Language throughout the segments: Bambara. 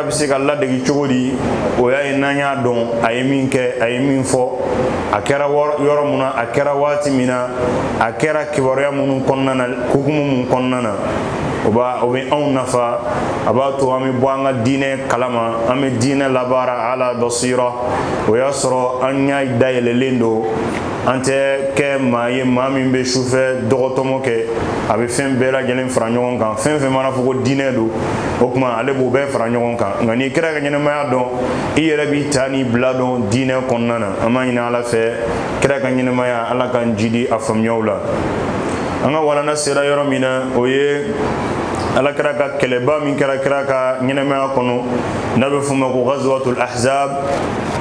a bɛ se k'a ladegi cogo di o y'a ye n'an y'a dɔn a ye min kɛ a ye min fɔ a kɛra yɔrɔ mun na a kɛra waati min na a kɛra kibaruya minnu kɔnɔna na hukumu mun kɔnɔna na o bɛ anw nafa a b'a to an bɛ bɔ an ka diinɛ kalama an bɛ diinɛ labaara ala basira o y'a sɔrɔ an ɲɛ dayɛlɛlen don an tɛ kɛ maa ye maa min bɛ sufɛ dɔgɔtɔmɔ kɛ a bɛ fɛn bɛɛ lajɛlen fara ɲɔgɔn kan fɛn fɛn mana fɔ ko diinɛ don o tuma ale b'o bɛɛ fara ɲɔgɔn kan nka n'i kira ka ɲɛnɛmaya dɔn i yɛrɛ b'i ta ni bila dɔn diinɛ kɔnɔna na an b'a ɲini ala fɛ kira ka ɲɛnɛmaya ala k'an jidi a faamuyaw la an ka walanda sera yɔrɔ min na o ye alakira ka kɛlɛba min kɛra kira ka ɲɛnɛmaya kɔnɔ n'a bɛ f'o ma ko gazuwatul ahzab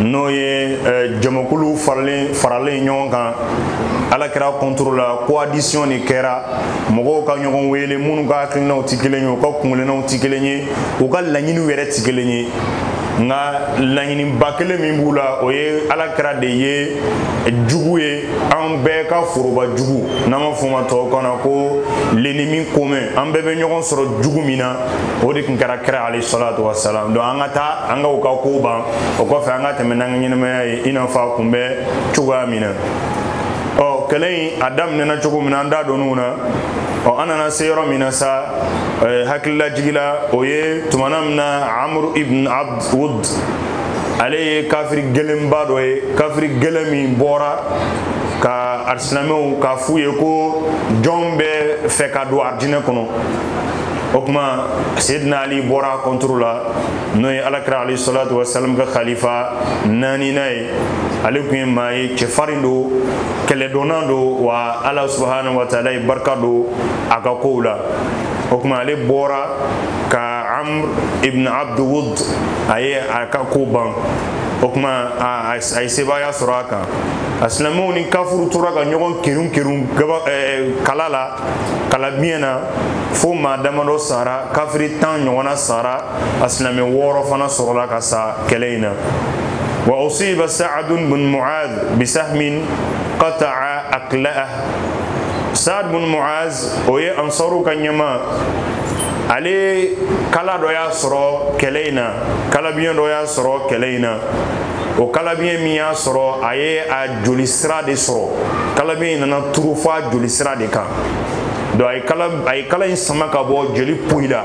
n'o ye eh, jamakulu faralen ɲɔgɔn kan alakira kɔntoro la coalition de kɛra mɔgɔw ka ɲɔgɔn wele minnu ka hakilinaw tɛ kelen ye u ka kuntilennaw tɛ kelen ye u ka laɲiniw yɛrɛ tɛ kelen ye nka laɲiniba kelen min b'u la o ye alakira de ye jugu ye an bɛɛ ka foroba jugu n'an b'a fɔ maa tɔw kan na ko l'ennemi commun an bɛɛ bɛ ɲɔgɔn sɔrɔ jugu min na o de tun kɛra kira alayhi salatu wasalam donc an ka taa an ka u ka kow ban o kɔfɛ an ka tɛmɛ n'an ka ɲɛnɛmaya ye i n'a fɔ a kun bɛ cogoya min na ɔ kɛlɛ in a daminɛna cogo min na an da donn'o na ɔ an nana se yɔrɔ min na sa eh, hakililajigi la o ye tumana min na amr ibn abd wud ale ye kafiri gɛlɛnba dɔ ye kafiri gɛlɛn min bɔra ka arisilamɛw k'a f'u ye ko jɔn bɛ fɛ ka don arijinɛ kɔnɔ o tuma sedina ali bɔra a kɔntoro la n'o ye alakira alayhi salatu wasalam ka khalifa naaninan ye ale tun ye maa ye cɛfarin don kɛlɛdɔnna don wa ala subahanahu wa taala ye barika don a ka kow la o tuma ale bɔra ka amr ibn abd wud a ye a ka ko ban o tuma a ye sebaaya sɔrɔ a kan a silamɛw ni kafiriw tora ka ɲɔgɔn kerun kerun kala la kalabiɲɛ na fo maa damadɔ sara kafiri tan ɲɔgɔnna sara a silamɛ wɔɔrɔ fana sɔrɔla ka sa kɛlɛ in na wa usiba saadu bun muaz bisahmin qata'a akhalah saad bun muaz o ye ansaru ka ɲɛmaa ale kala dɔ y'a sɔrɔ kɛlɛ in na kalabiɲɛ dɔ y'a sɔrɔ kɛlɛ in na o kalabiɲɛ min y'a sɔrɔ a ye a jolisira de sɔrɔ kalabiɲɛ in nana turu fo a jolisira de kan donc a ye kala in sama k'a bɔ joli poyila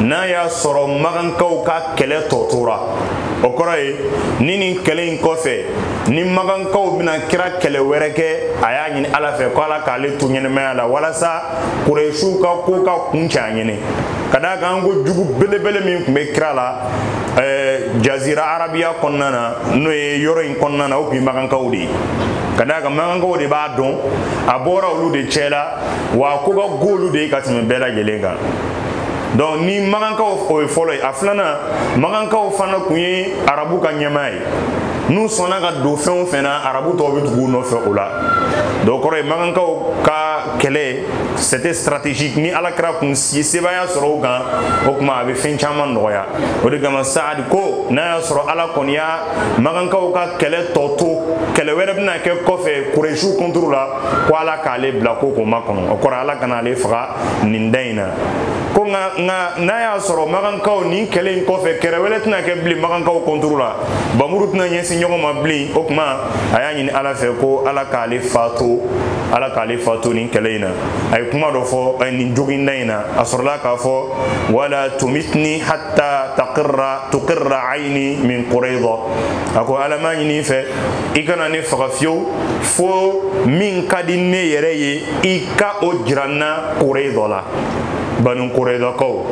n'a y'a sɔrɔ magankaw ka kɛlɛ tɔ tora o kɔrɔ ye ni nin kɛlɛ in kɔfɛ ni magankaw bɛna kira kɛlɛ wɛrɛ kɛ a y'a ɲini ala fɛ ko ala k'ale to ɲɛnamaya la walasa kuresiw ka ko ka kuncɛ a ɲɛ na ka d'a kan an ko jugu belebele min kun bɛ kira la ɛɛ jazira arabiya kɔnɔna na n'o ye yɔrɔ in kɔnɔna na o kun ye magankaw de ye ka d'a kan magankaw de b'a dɔn a bɔra olu de cɛ la wa a ko ka go olu de ye ka tɛmɛ bɛɛ lajɛlen kan donc ni magankaw o ye fɔlɔ ye a filanan magankaw fana kun ye arabu ka ɲɛmaa ye n'u sɔnna ka don fɛn o fɛn na arabu tɔw bɛ tugu u nɔfɛ o la donc kɔrɔ ye magankaw ka kɛlɛ c'était stratégique ni ala kira kun si sebaaya sɔrɔ u kan o tuma a bɛ fɛn caman nɔgɔya o de kama saadi ko n'a y'a sɔrɔ ala kɔni y'a magankaw ka kɛlɛ tɔ to kɛlɛ wɛrɛ bɛna kɛ kɔfɛ kuresiw contre la ko ala k'ale bila ko k'o makɔnɔ o kɔrɔ ala kana ale faga nin da in na ko nka nka n'a y'a sɔrɔ magankaw nin kɛlɛ in kɔfɛ kɛlɛ wɛrɛ tɛna kɛ bilen magankaw contre la bamuru tɛna ɲɛsin ɲɔgɔn ma bilen o tuma a y'a ɲini ala fɛ ko ala k'ale faatu ala k'ale faatu nin kɛlɛ in na a ye kuma dɔ fɔ eh, nin joginda in na a sɔrɔla k'a fɔ wala tumitni hatta taqirra tuqirra ayni min qurayda a ko ala n b'a ɲini i fɛ i kana ne faga fiyewu fo min ka di ne yɛrɛ ye i ka o jira n na kureza la banu kurezakaw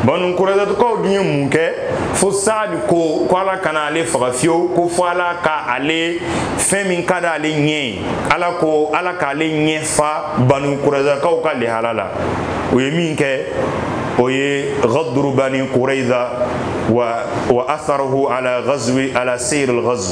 banu kurezakaw dun ye mun kɛ fo saadi ko ko ala kana ale faga fiyewu ko fo ala ka ale fɛn min ka di ale ɲɛ ye ala ko ala k'ale ɲɛ fa banu kurezakaw ka lihala la u ye min kɛ o ye gaduru bani kureza wa wa atharahu ala gazwi ala seyir al gazw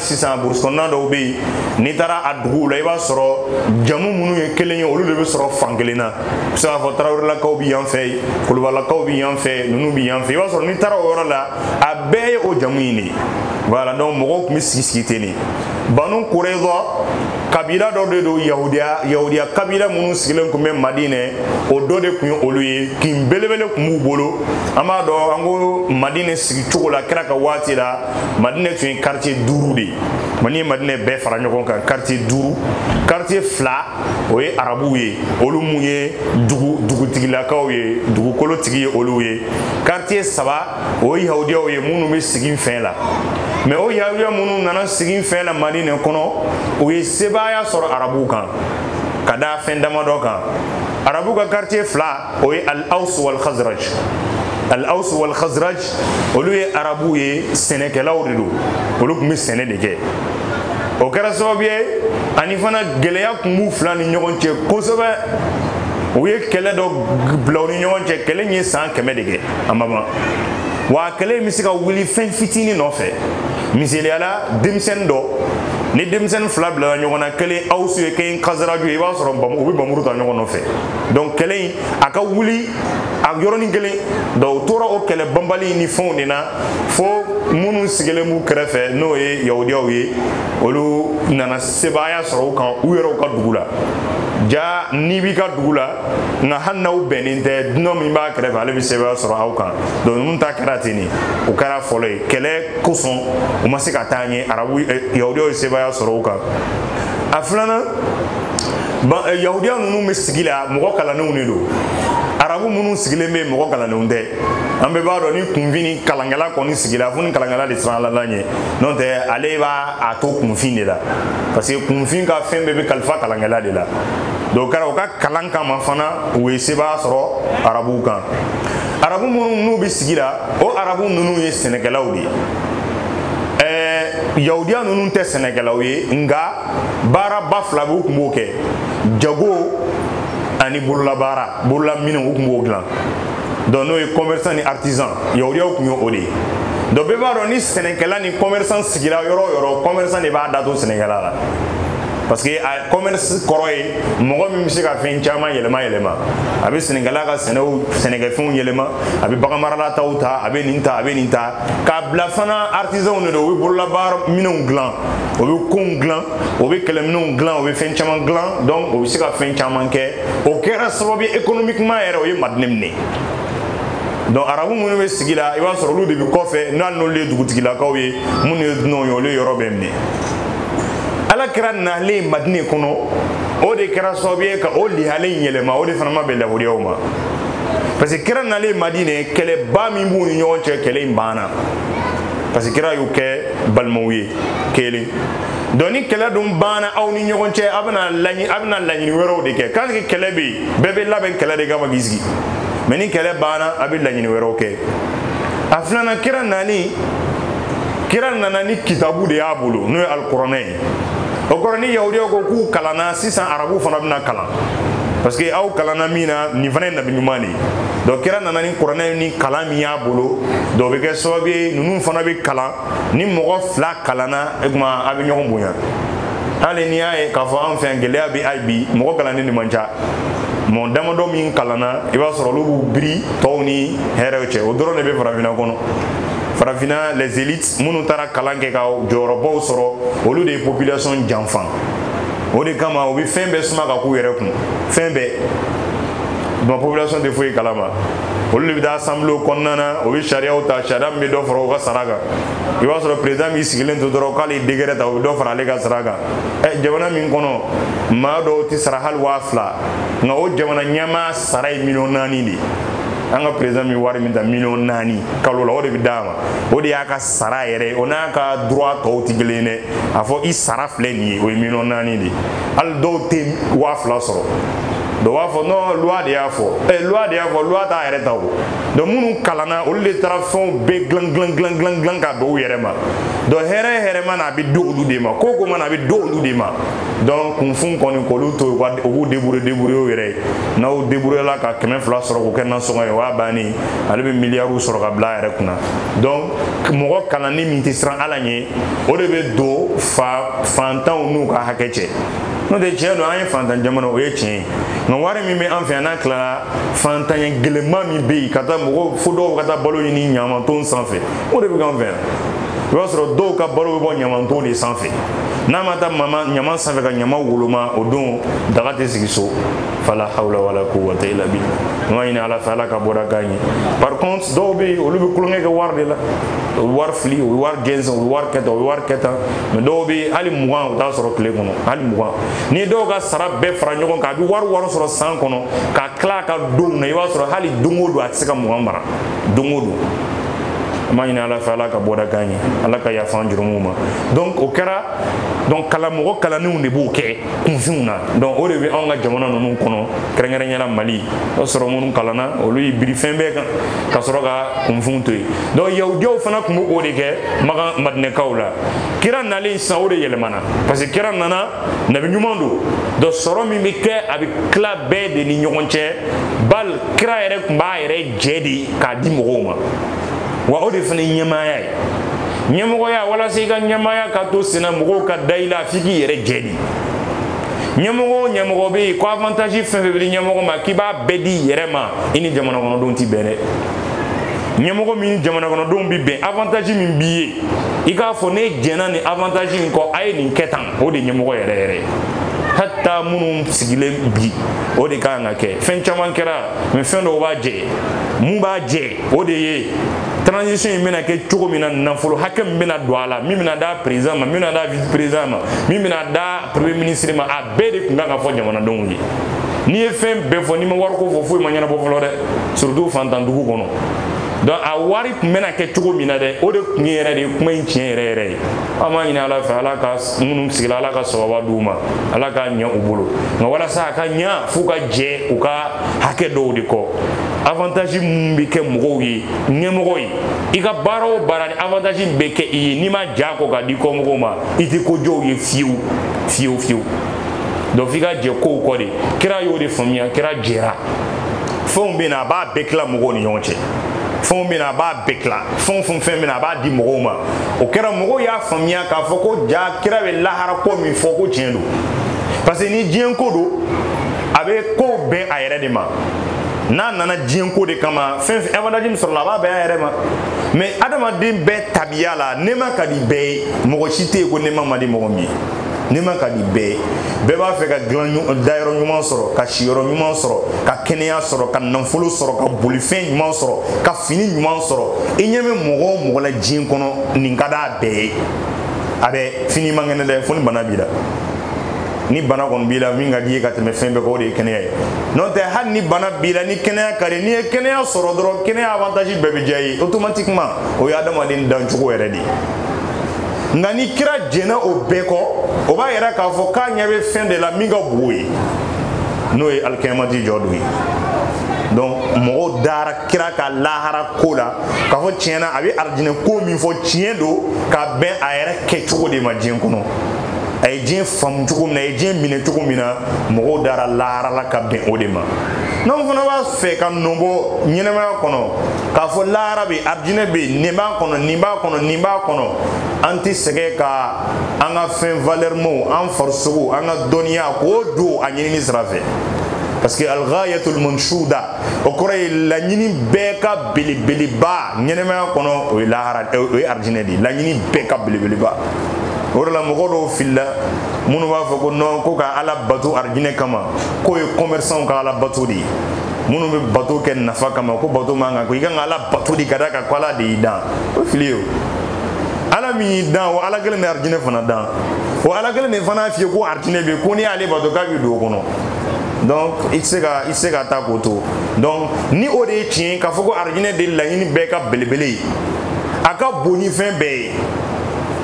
sisan burusi kɔnɔna dɔw bɛ yen n'i taara a duguw la i b'a sɔrɔ jamu minnu ye kelen ye olu de bɛ sɔrɔ fan kelen na i bɛ se k'a fɔ tarawelelakaw bɛ yan fɛ kulubalakaw bɛ yan fɛ ninnu bɛ yan fɛ i b'a sɔrɔ n'i taara o yɔrɔ la a bɛɛ ye o jamu in de ye voilà donc mɔgɔw tun bɛ sigi sigi ten de banu kureza kabila dɔ de don yahudiya yahudiya kabila minnu sigilen tun bɛ madinɛ o dɔ de tun ye olu ye kin belebele tun b'u bolo an b'a dɔn an ko madinɛ sigi cogo la kira ka waati la madinɛ tun ye quartier duuru de ye mani ye madinɛ bɛɛ fara ɲɔgɔn kan quartier duuru quartier fila o ye arabuw ye olu mun ye dugutigilakaw ye dugukolo tigi ye olu ye quartier saba o ye yahudiyaw ye minnu bɛ siginfɛ la mais o yahudiya minnu nana siginfɛ la madinɛ kɔnɔ u ye sebaaya sɔrɔ arabuw kan ka da fɛn damadɔ kan arabuw ka quartier fila o ye al aus wal khazraj al aus wal khazraj olu ye arabuw ye sɛnɛkɛlaw de don olu tun bɛ sɛnɛ de kɛ o kɛra sababu ye ani fana gɛlɛya tun b'u fila ni ɲɔgɔn cɛ kosɛbɛ u ye kɛlɛ dɔ bila u ni ɲɔgɔn cɛ kɛlɛ in ye san kɛmɛ de kɛ a ma ban wa kɛlɛ in bɛ se ka wuli fɛn fitinin nɔfɛ misaliya la denmisɛnnin dɔ ni denmisɛnnin fila bilala ɲɔgɔn na kelen awusu ye kelen kazaraju ye i b'a sɔrɔ u bɛ bamuru ta ɲɔgɔn nɔfɛ donc kɛlɛ in a ka wuli a yɔrɔnin kelen donc u tora o kɛlɛ banbali ni fɛnw de na fo minnu sigilen b'u kɛrɛfɛ n'o ye yahudiyaw ye olu nana sebaaya sɔrɔ u kan u yɛrɛw ka dugu la ja n'i b'i ka dugu la nka hali n'aw bɛnnen tɛ dunan min b'a kɛrɛfɛ ale bɛ sebaaya sɔrɔ aw kan donc ninnu ta kɛra ten de o kɛra fɔlɔ ye kɛlɛ kosɔn u ma se ka taa ɲɛ arabu yahudiyaw ye sebaaya sɔrɔ u kan a filanan eh, yahudiya ninnu bɛ sigi la mɔgɔ kalannenw de don arabu minnu sigilen bɛ mɔgɔ kalannenw tɛ an bɛɛ b'a dɔn ni kunfin ni kalankɛla kɔni sigila fo ni kalankɛla de siranna ala ɲɛ n'o tɛ ale b'a da to kunfin de la parce que kunfin ka fɛn bɛɛ bɛ kalifa kalankɛla de la donc kɛra u ka kalan kama fana u ye sebaaya sɔrɔ arabuw kan arabu minnu n'u bɛ sigi la o arabu ninnu ye sɛnɛkɛlaw de ye ɛɛ yahudiya ninnu tɛ sɛnɛkɛlaw ye nka baaraba fila bɛ u tun b'o kɛ jago ani bololabaara bololaminɛnw u tun b'o dilan donc n'o ye commerçant ni artisan yahudiyaw tun ye o de ye donc bɛɛ b'a dɔn ni sɛnɛkɛla ni commerçant sigira yɔrɔ o yɔrɔ commerçant de b'a da to sɛnɛkɛla la parce que a commerce kɔrɔ ye mɔgɔ min bɛ se ka fɛn caman yɛlɛma yɛlɛma a bɛ sɛnɛkɛla ka sɛnɛw sɛnɛkɛfɛnw yɛlɛma a bɛ baganmarala taw ta a bɛ nin ta a bɛ nin ta k'a bila fana artisanw de don o bɛ bololabaara minɛnw dilan o bɛ kow dilan o bɛ kɛlɛminɛnw dilan o bɛ fɛn caman dilan donc o bɛ se ka fɛn caman kɛ o kɛra sababu ye économiquement yɛrɛ o ye madinɛ minɛ donc arabu minnu bɛ sigi la i b'a sɔrɔ olu de bɛ kɔfɛ n'a n'olu ye dugutigilakaw ye minnu ye dunanw ye olu ye yɔrɔ bɛɛ minɛ ala kira nalen madinɛ kɔnɔ o de kɛra sababu ye ka o lihale yɛlɛma o de fana ma bɛn yahudiyaw ma parce que kira nalen madinɛ kɛlɛba min b'u ni ɲɔgɔn cɛ kɛlɛ in banna parce que kira y'u kɛ balimaw ye kelen donc ni kɛlɛ dun banna aw ni ɲɔgɔn cɛ a bɛna laɲini a bɛna laɲini wɛrɛw de kɛ tant que kɛlɛ bɛ yen bɛɛ bɛ labɛn kɛlɛ de kama k'i sigi mais ni kɛlɛ banna a bɛ laɲini wɛrɛw kɛ a filanan kira nani kira nana ni kitabu de y'a bolo n'o ye alikuranɛ ye o kɔrɔ ni yahudiyaw ko k'u kalanna sisan arabuw fana bɛna kalan parce que aw kalanna min na nin fana ye nabi ɲuman de ye donc kira nana ni kuranɛ ni kalan min y'a bolo donc o bɛ kɛ sababu ye ninnu fana bɛ kalan ni mɔgɔ fila kalanna o tuma a bɛ ɲɔgɔn bonya hali n'i y'a ye k'a fɔ anw fɛ yan gɛlɛya bɛ hali bi mɔgɔ kalannen de man ca mɔgɔ damadɔ min kalanna i b'a sɔrɔ olu b'u biri tɔw ni hɛrɛw cɛ o dɔrɔn de bɛ farafinna kɔnɔ farafinna les élites minnu taara kalan kɛ ka jɔyɔrɔbaw sɔrɔ olu de ye population janfa o de kama u bɛ fɛn bɛɛ suma ka k'u yɛrɛ kun fɛn bɛɛ donc population tɛ foyi kalama olu de bɛ taa assemblée kɔnɔna na o bɛ sariyaw ta sariya min bɛ dɔ fara u ka sara kan i b'a sɔrɔ président min sigilen to dɔrɔn k'ale ye décret ta o bɛ dɔ fara ale ka sara kan ɛ jamana min kɔnɔ maa dɔw tɛ sara hali waa fila nka o jamana ɲɛmaa sara ye miliyɔn naani de ye an ka président bɛ wari min ta miliyɔn naani kalo la o de bɛ d'a ma o de y'a ka sara yɛrɛ ye o n'a ka droit tɔw tɛ kelen ye dɛ a fɔ i sara filɛ nin ye o ye miliyɔn naani de ye hali dɔw tɛ waa fila sɔrɔ dɔ b'a fɔ non loi de y'a fɔ ɛ eh, loi de y'a fɔ loi t'a yɛrɛ ta o donc minnu kalanna olu de taara fɛnw bɛɛ dilan dilan dilan dilan dilan ka d'u yɛrɛ ma donc hɛrɛ o hɛrɛ mana na a bɛ di olu de ma ko o ko mana na a bɛ di olu de ma donc kunfin kɔni k'olu to u ka u k'u débrouiller débrouiller u yɛrɛ ye n'aw débrouiller la ka kɛmɛ fila sɔrɔ k'o kɛ nasɔngɔ ye o y'a bannen ye ale bɛ miliyariw sɔrɔ ka bila a yɛrɛ kunna donc mɔgɔ kalannen min tɛ siran ala ɲɛ o de bɛ don fa fantanw n'u ka hakɛ cɛ n'o tɛ tiɲɛ don an ye fantan jamana o ye tiɲɛ ye nka wari min bɛ an fɛ yan n'a tilara fantanya gɛlɛnman min bɛ yen ka taa mɔgɔw fo dɔw ka taa balo ɲini ɲamanton sanfɛ o de bɛ k'an fɛ yan i b'a sɔrɔ dɔw ka balo bɛ bɔ ɲamanton de sanfɛ n'a ma taa ɲaman sanfɛ ka ɲaman woloma o don daga tɛ sigi so fala hawla wala quwwata illa billah an k'a ɲini ala fɛ ala ka bɔda k'an ye par contre dɔw bɛ yen olu bɛ tulonkɛ kɛ wari de la o bɛ wari fili o bɛ wari gɛnzɛn o bɛ wari kɛ tan o bɛ wari kɛ tan mais dɔw bɛ yen hali mugan o t'a sɔrɔ tile kɔnɔ hali mugan ni dɔw ka sara bɛɛ fara ɲɔgɔn kan a bɛ wari wari sɔrɔ san kɔnɔ ka tila a ka donw na i b'a sɔrɔ hali don o don a tɛ se ka mugan mara don o don an b'a ɲini ala fɛ ala ka bɔda k'an ye ala ka yafa an jurumuw ma donc o kɛra donc kalan mɔgɔ kalannenw de b'o kɛ kunfinw na donc o de bɛ anw ka jamana ninnu kɔnɔ kɛrɛnkɛrɛnya la mali o sɔrɔ minnu kalanna olu y'i biri fɛn bɛɛ kan ka sɔrɔ ka kunfinw to yen donc yahudiyaw fana tun bɛ o de kɛ makan madinɛkaw la kira nalen sisan o de yɛlɛmana parce que kira nana nabi ɲuman don donc sɔrɔ min bɛ kɛ a bɛ tila bɛɛ de ni ɲɔgɔn cɛ bal kira yɛrɛ tun b'a yɛrɛ jɛ de k'a di mɔgɔw ma wa o de fana ye ɲɛmaaya ye ɲɛmɔgɔya walasa i ka ɲɛmaaya ka to senna mɔgɔw ka da i la f'i k'i yɛrɛ jɛ de ɲɛmɔgɔ o ɲɛmɔgɔ bɛ yen ko avantage fɛn fɛn bɛ di ɲɛmɔgɔ ma k'i b'a bɛɛ d'i yɛrɛ ma i ni jamana kɔnɔdenw tɛ bɛn dɛ ɲɛmɔgɔ min jamana kɔnɔdenw bɛ bɛn avantage min b'i ye i k'a fɔ ne jɛnna nin avantage in kɔ a ye nin kɛ tan o de ye ɲɛmɔgɔ yɛrɛ yɛrɛ ye hatta minnu sigilen bi o de ka kan ka kɛ fɛn caman kɛra mais fɛn dɔw b'a jɛ mun b'a jɛ o de ye transition in bɛna kɛ cogo min na nafolo hakɛ min bɛna don a la min bɛna d'a président ma min bɛna d'a vice président ma min bɛna d'a premier ministre ma a bɛɛ de tun kan ka fɔ jamanadenw ye n'i ye fɛn bɛɛ fɔ n'i ma wariko fɔ foyi ma ɲɛnabɔ fɔlɔ dɛ surtout fantan dugu kɔnɔ donc a wari tun bɛna kɛ cogo min na dɛ o de tun ye yɛrɛ de ye kuma in tiɲɛ yɛrɛ yɛrɛ ye an b'a ɲini ala fɛ ala ka minnu sigila ala ka sababa d'u ma ala k'a ɲɛ u bolo nka walasa a ka ɲɛ f'u ka jɛ u ka hakɛ dɔw de kɔ avantage min bɛ kɛ mɔgɔw ye ɲɛmɔgɔ ye i ka baara o baara ni avantage bɛ kɛ i ye n'i ma j'a kɔ k'a di kɔmɔgɔw ma i tɛ ko jɔw ye fiyewu fiyewu fiyewu donc f'i ka jɛ kow kɔ de kira y'o de faamuya kira jɛra fɛnw bɛ na a b'a bɛɛ tila mɔgɔw ni ɲɔgɔn cɛ fɛnw bɛ na a b'a bɛɛ tila fɛn o fɛn fɛn bɛ na a b'a di mɔgɔw ma o kɛra mɔgɔw y'a faamuya k'a fɔ ko jaa kira bɛ lahara ko min fɔ ko tiɲɛ don parce que ni diɲɛ ko don a bɛ kow bɛn a yɛrɛ de ma n'a nana diɲɛ ko de kama fɛn fɛn avantage min sɔrɔla a b'a bɛn a yɛrɛ ma mais adamaden bɛɛ tabiya la nɛɛma ka di bɛɛ ye mɔgɔ si tɛ yen ko nɛɛma man di mɔgɔ min ye nɛɛma ka di bɛɛ ye bɛɛ b'a fɛ ka dayɔrɔ ɲuman sɔrɔ ka siyɔrɔ ɲuman sɔrɔ ka kɛnɛya sɔrɔ ka nafolo sɔrɔ ka bolifɛn ɲuman sɔrɔ ka fini ɲuman sɔrɔ i ɲɛ bɛ mɔgɔ o mɔgɔ la diɲɛ kɔnɔ nin ka d'a bɛɛ ye a bɛɛ fo n'i man kɛnɛ dɛ fo ni bana b'i la ni bana kɔni b'i la min ka d'i ye ka tɛmɛ fɛn bɛɛ kan o de ye kɛnɛya ye n'o tɛ hali ni bana b'i la ni kɛnɛya ka di n'i ye kɛnɛya sɔrɔ dɔrɔn kɛnɛya avantage bɛɛ bɛ diya i ye automatiquement o ye adamaden dancogo yɛrɛ de ye nka ni kira jɛnna o bɛɛ kɔ o b'a yira k'a fɔ k'a ɲɛ bɛ fɛn de la min ka bon o ye n'o ye alikiyamati jɔ don ye donc mɔgɔw dara kira ka lahara ko la k'a fɔ tiɲɛ na a bɛ arijinɛ ko min fɔ tiɲɛ don ka bɛn a yɛrɛ kɛcogo de ma diɲɛ kɔnɔ a ye diɲɛ faamu cogo min na a ye diɲɛ minɛ cogo min na mɔgɔw dara lahara la ka bɛn o de ma n'anw fana b'a fɛ ka nɔ bɔ ɲɛnɛmaya kɔnɔ k'a fɔ lahara bɛ arijinɛ bɛ yen nin b'a kɔnɔ nin b'a kɔnɔ nin b'a kɔnɔ an tɛ sɛgɛn ka an ka fɛn valɛrimaw an farisogo an ka dɔnniya k'o don a ɲinini sira fɛ parce que alghayatul manshuda o kɔrɔ ye laɲini bɛɛ ka belebeleba ɲɛnɛmaya kɔnɔ o ye lahara o ye arijinɛ de ye laɲini bɛɛ ka belebeleba o de la mɔgɔ dɔw filila minnu b'a fɔ ko non ko ka ala bato arijinɛ kama k'o ye commerçantw ka ala bato de ye minnu bɛ bato kɛ nafa kama ko bato man kan ko i ka kan ka ala bato de ka d'a kan ko ala de y'i dan o ye fili ye o ala min y'i dan o ala kelen de ye arijinɛ fana dan o ala kelen de fana f'i ye ko arijinɛ bɛ yen ko n'i y'ale bato k'a b'i don o kɔnɔ donc i tɛ se ka i tɛ se ka taa k'o to donc ni o de ye tiɲɛ ye k'a fɔ ko arijinɛ de ye laɲini bɛɛ ka belebele ye a ka bon ni fɛn bɛɛ ye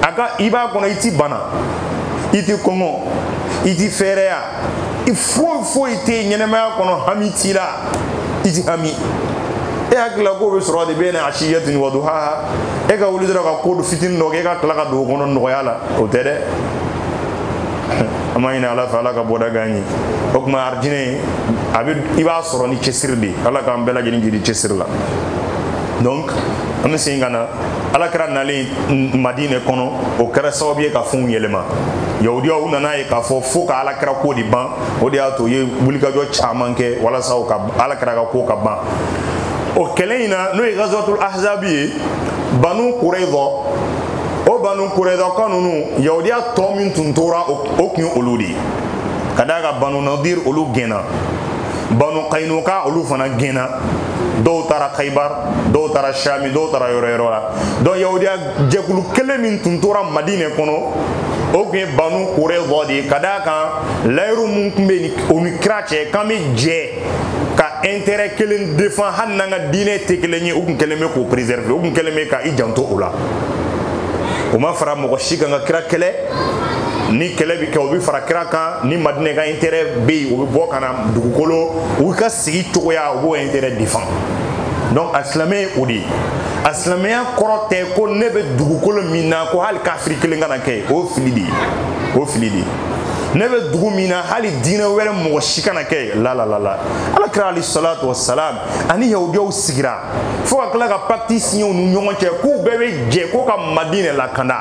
a ka i b'a kɔnɔ i ti bana i ti kɔngɔ i ti fɛɛrɛya i foyi foyi tɛ yen ɲɛnɛmaya kɔnɔ hami t'i la i ti hami e hakili la k'o bɛ sɔrɔ de bayna asiyatin wa duhaha e ka wuli dɔrɔn ka ko fitinin dɔ kɛ e ka tila ka don o kɔnɔ nɔgɔya la o tɛ dɛ an b'a ɲini ala fɛ ala ka bɔda k'an ye o tuma arijinɛ a bɛ i b'a sɔrɔ ni cɛsiri de ye ala k'an bɛɛ lajɛlen jiri cɛsiri la donc an bɛ segin ka na ala kira nalen madinɛ kɔnɔ o kɛra sababu ye ka fɛnw yɛlɛma yahudiyaw u nana ye k'a fɔ fo ka ala kira ko de ban o de y'a to u ye wulikajɔ caman kɛ walasa u ka ala kira ka ko ka ban o kɛlɛ in na n'o ye gazawatul ahzabi ye banu kureza o banu kurezaka ninnu yahudiya tɔ min tun tora o tun ye olu de ye ka d'a kan banu nadir olu gɛnna banu kainuka olu fana gɛnna dɔw taara kaibar dɔw taara shami dɔw taara yɔrɔ yɔrɔ la donc yahudiya jɛkulu kelen min tun tora madinɛ kɔnɔ o tun ye banu kureza de ye ka d'a kan layiru min tun bɛ o ni kira cɛ k'an bɛ jɛ ka intérêt kelen défend hali n'an ka diinɛ tɛ kelen ye u tun kɛlen bɛ k'o préserver u tun kɛlen bɛ ka i janto o la o ma fara mɔgɔ si kan ka kira kɛlɛ ni kɛlɛ bɛ kɛ o bɛ fara kira kan ni madinɛ ka intérêt bɛ yen o bɛ bɔ ka na dugukolo u ka sigi cogoya u b'o intérêt défend donc a silamɛ ye o de ye a silamɛya kɔrɔ tɛ ko ne bɛ dugukolo min na ko hali kafiri kelen kana kɛ o fili de ye o fili de ye ne bɛ dugu min na hali diinɛ wɛrɛ mɔgɔ si kana kɛ yen la la la la ala kira alayhi salatu wa salam ani yahudiyaw sigira fo ka tila ka pacte signer u ni ɲɔgɔn cɛ k'u bɛɛ bɛ jɛ ko ka madinɛ lakanda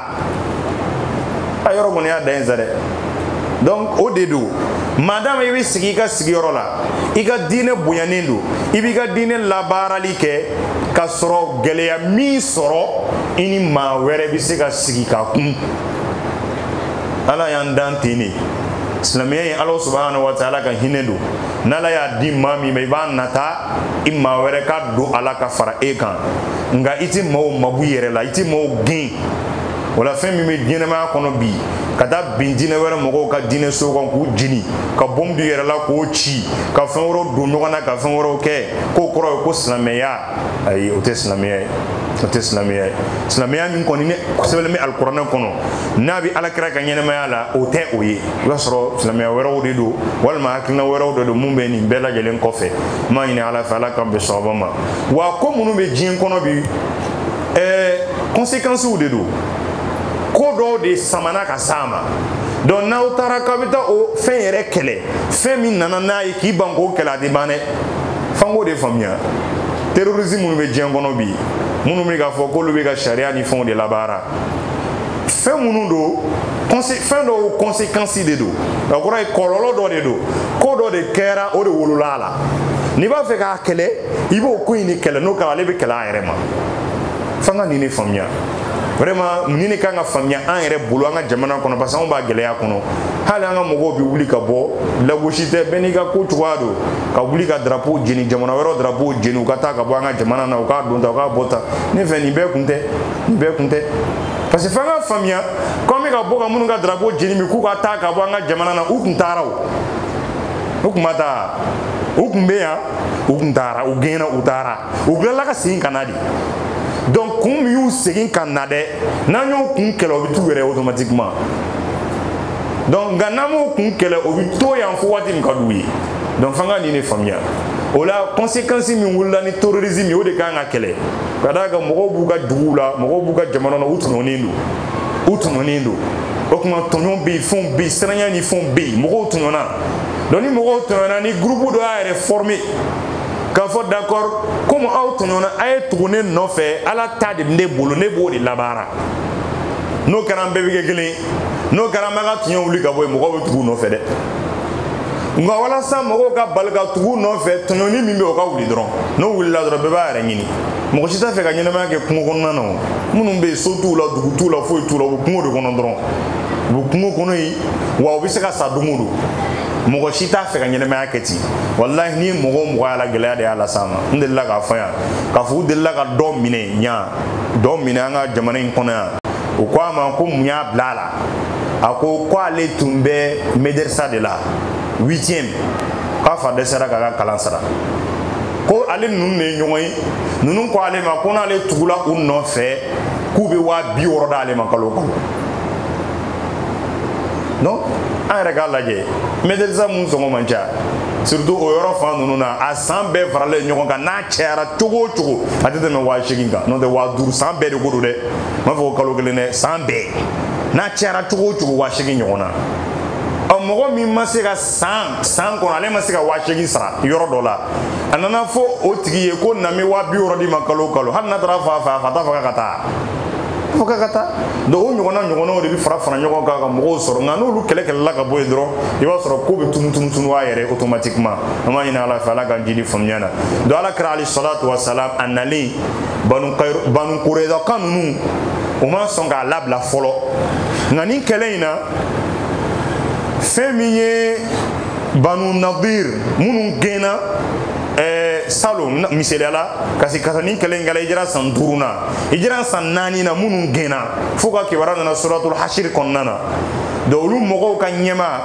a yɔrɔ kɔni y'a da yen sa dɛ donc o de don madama i bɛ sigi i ka sigiyɔrɔ la i ka diinɛ bonyanen don i b'i ka diinɛ labaarali kɛ ka sɔrɔ gɛlɛya m'i sɔrɔ i ni maa wɛrɛ bɛ se ka sigi ka kun ala y'an dan ten de silamɛya ye ala subahana wa taala ka hinɛ don n'ala y'a di maa min ma i b'a nata i maa wɛrɛ ka don a la ka fara e kan nka i tɛ maaw mabɔ i yɛrɛ la i tɛ maaw gɛn o la fɛn min bɛ diɲɛnamaya kɔnɔ bi ka taa bin diinɛ wɛrɛ mɔgɔw ka diinɛ so kan k'u jeni ka bɔmu d'u yɛrɛ la k'o ci ka fɛn wɛrɛw don ɲɔgɔn na ka fɛn wɛrɛw kɛ k'o kɔrɔ ye ko silamɛya ayi o tɛ silamɛya ye o tɛ silamɛya ye silamɛya min kɔni ne sɛbɛnlen bɛ alikuranɛ kɔnɔ n'a bɛ ala kira ka ɲɛnamaya la o tɛ o ye i b'a sɔrɔ silamɛya wɛrɛw de don walima hakilina wɛrɛw de don mun bɛ nin bɛɛ lajɛlen kɔfɛ n b'a ɲini ala fɛ ala k'an bɛn sababa ma wa ko minnu bɛ diɲɛ kɔnɔ bi ɛɛ conséquences de don ko dɔw de samana ka s'a ma donc n'aw taara k'aw bɛ taa o fɛn yɛrɛ kɛlɛ fɛn min nana n'a ye k'i ban k'o kɛlɛ a tɛ ban dɛ f'an k'o de faamuya terrorisme minnu bɛ diɲɛ kɔnɔ bi minnu bɛ k'a fɔ k'olu bɛ ka sariya ni fɛnw de labaara fɛn minnu don fɛn dɔw conséquence de don o kɔrɔ ye kɔlɔlɔ dɔ de don ko dɔ de kɛra o de wolola a la n'i b'a fɛ k'a kɛlɛ i b'o ko in de kɛlɛ n'o kɛra ale bɛ kɛlɛ a yɛrɛ ma f'an ka nin de faamuya vraiment nin de kan ka faamuya an yɛrɛ bolo an ka jamana kɔnɔ parce que anw b'a gɛlɛya kɔnɔ hali an ka mɔgɔw bɛ wuli ka bɔ lagosi tɛ bɛɛ n'i ka ko cogoya don ka wuli ka drapeau jeni jamana wɛrɛw drapeau jeni u ka taa ka bɔ an ka jamana na u ka don tan u ka bɔ tan ne fɛ nin bɛɛ kun tɛ nin bɛɛ kun tɛ parce que f'an k'a faamuya ko an bɛ ka bɔ ka minnu ka drapeau jeni bi k'u ka taa ka bɔ an ka jamana na u kun taara o u kun ma taa u kun bɛ yan u kun taara u gɛnna u taara u tilala ka segin ka na de donc kun min y'u segin ka na dɛ n'an y'o kun kɛlɛ o bɛ t'u yɛrɛ automatiquement donc nka n'an m'o kun kɛlɛ o bɛ to yan fo waati min ka d'u ye donc f'an ka nin de faamuya o la conséquence min wulila ni terrorisme ye o de kan ka kɛlɛ ka d'a kan mɔgɔw b'u ka duguw la mɔgɔw b'u ka jamana na u tɔɲɔnen don u tɔɲɔnen don o tuma tɔɲɔ bɛ yen fɛnw bɛ yen siranya ni fɛnw bɛ yen mɔgɔw tɔɲɔna donc ni mɔgɔw tɔɲɔna ni groupe dɔ y'a yɛrɛ former k'a fɔ d'accord komi aw tɔɲɔna a ye tugu ne nɔfɛ ala ta de bɛ ne bolo ne b'o de labaara n'o kɛra an bɛɛ bɛ kɛ kelen ye n'o kɛra an bɛ ka tiɲɛ wuli ka bɔ yen mɔgɔw bɛ tug'u nɔfɛ dɛ nka walasa mɔgɔw ka bali ka tug'u nɔfɛ tɔɲɔni min bɛ o ka wuli dɔrɔn n'o wulila dɔrɔn bɛɛ b'a yɛrɛ ɲini mɔgɔ si t'a fɛ ka ɲɛnamaya kɛ kungo kɔnɔna na o minnu bɛ yen so t'u la dugu t'u la foyi t'u la u bɛ kungo de kɔnɔ dɔrɔn u bɛ kungo kɔnɔ yen wa u bɛ se ka sa don o don mɔgɔ si t'a fɛ ka ɲɛnamaya kɛ ten walahi ni mɔgɔ o mɔgɔ y'a la gɛlɛya de y'a las'a ma n delila k'a fɔ yan k'a fɔ u delila ka dɔ minɛ yan dɔ minɛ an ka jamana in kɔnɔ yan u ko a ma ko mun y'a bila a la a ko ko ale tun bɛ medersa de la huitième k'a fa dɛsɛra k'a ka kalan sara ko ale ninnu de ye ɲɔgɔn ye ninnu ko ale ma ko n'ale tugula u nɔfɛ k'u bɛ waa bi wɔɔrɔ d'ale ma kalo o kalo donc an yɛrɛ k'a lajɛ medersa mun sɔngɔ man ca surtout o yɔrɔ fan ninnu na a san bɛɛ faralen ɲɔgɔn kan n'a cayara cogo o cogo a tɛ tɛmɛ waa seegin kan n'o tɛ waa duuru san bɛɛ de ko don dɛ m'a fɔ ko kalo kelen dɛ san bɛɛ n'a cayara cogo o cogo waa seegin ɲɔgɔn na ɔ mɔgɔ min ma se ka san san kɔnɔ ale ma se ka waa seegin sara yɔrɔ dɔ la a nana fɔ o tigi ye ko na n bɛ waa bi wɔɔrɔ d'i ma kalo o kalo hali n'a taara fa fɛ a fa t'a fɔ k'a ka taa fo k'a ka taa donc o ɲɔgɔnna ɲɔgɔnnaw de bɛ fara fara ɲɔgɔn kan ka mɔgɔw sɔrɔ nka n'olu kɛlɛ kɛlɛla ka bɔ yen dɔrɔn i b'a sɔrɔ k'o bɛ tunu tunu tunu a yɛrɛ automatiquement an b'a ɲini ala fɛ ala k'an jidi faamuya na donc ala kira alayhi salatu wa salam a nalen banu banu kurezakaw ninnu u ma sɔn k'a labila fɔlɔ nka nin kɛlɛ in na fɛn min ye banu nadir minnu gɛnna ɛɛ salon misaliya la kasi kasa nin kɛlɛ in kɛla hijira san duuru na hijira san naani na minnu gɛnna fo u ka kibaruya nana suratul hasiri kɔnɔna na donc olu mɔgɔw ka ɲɛmaa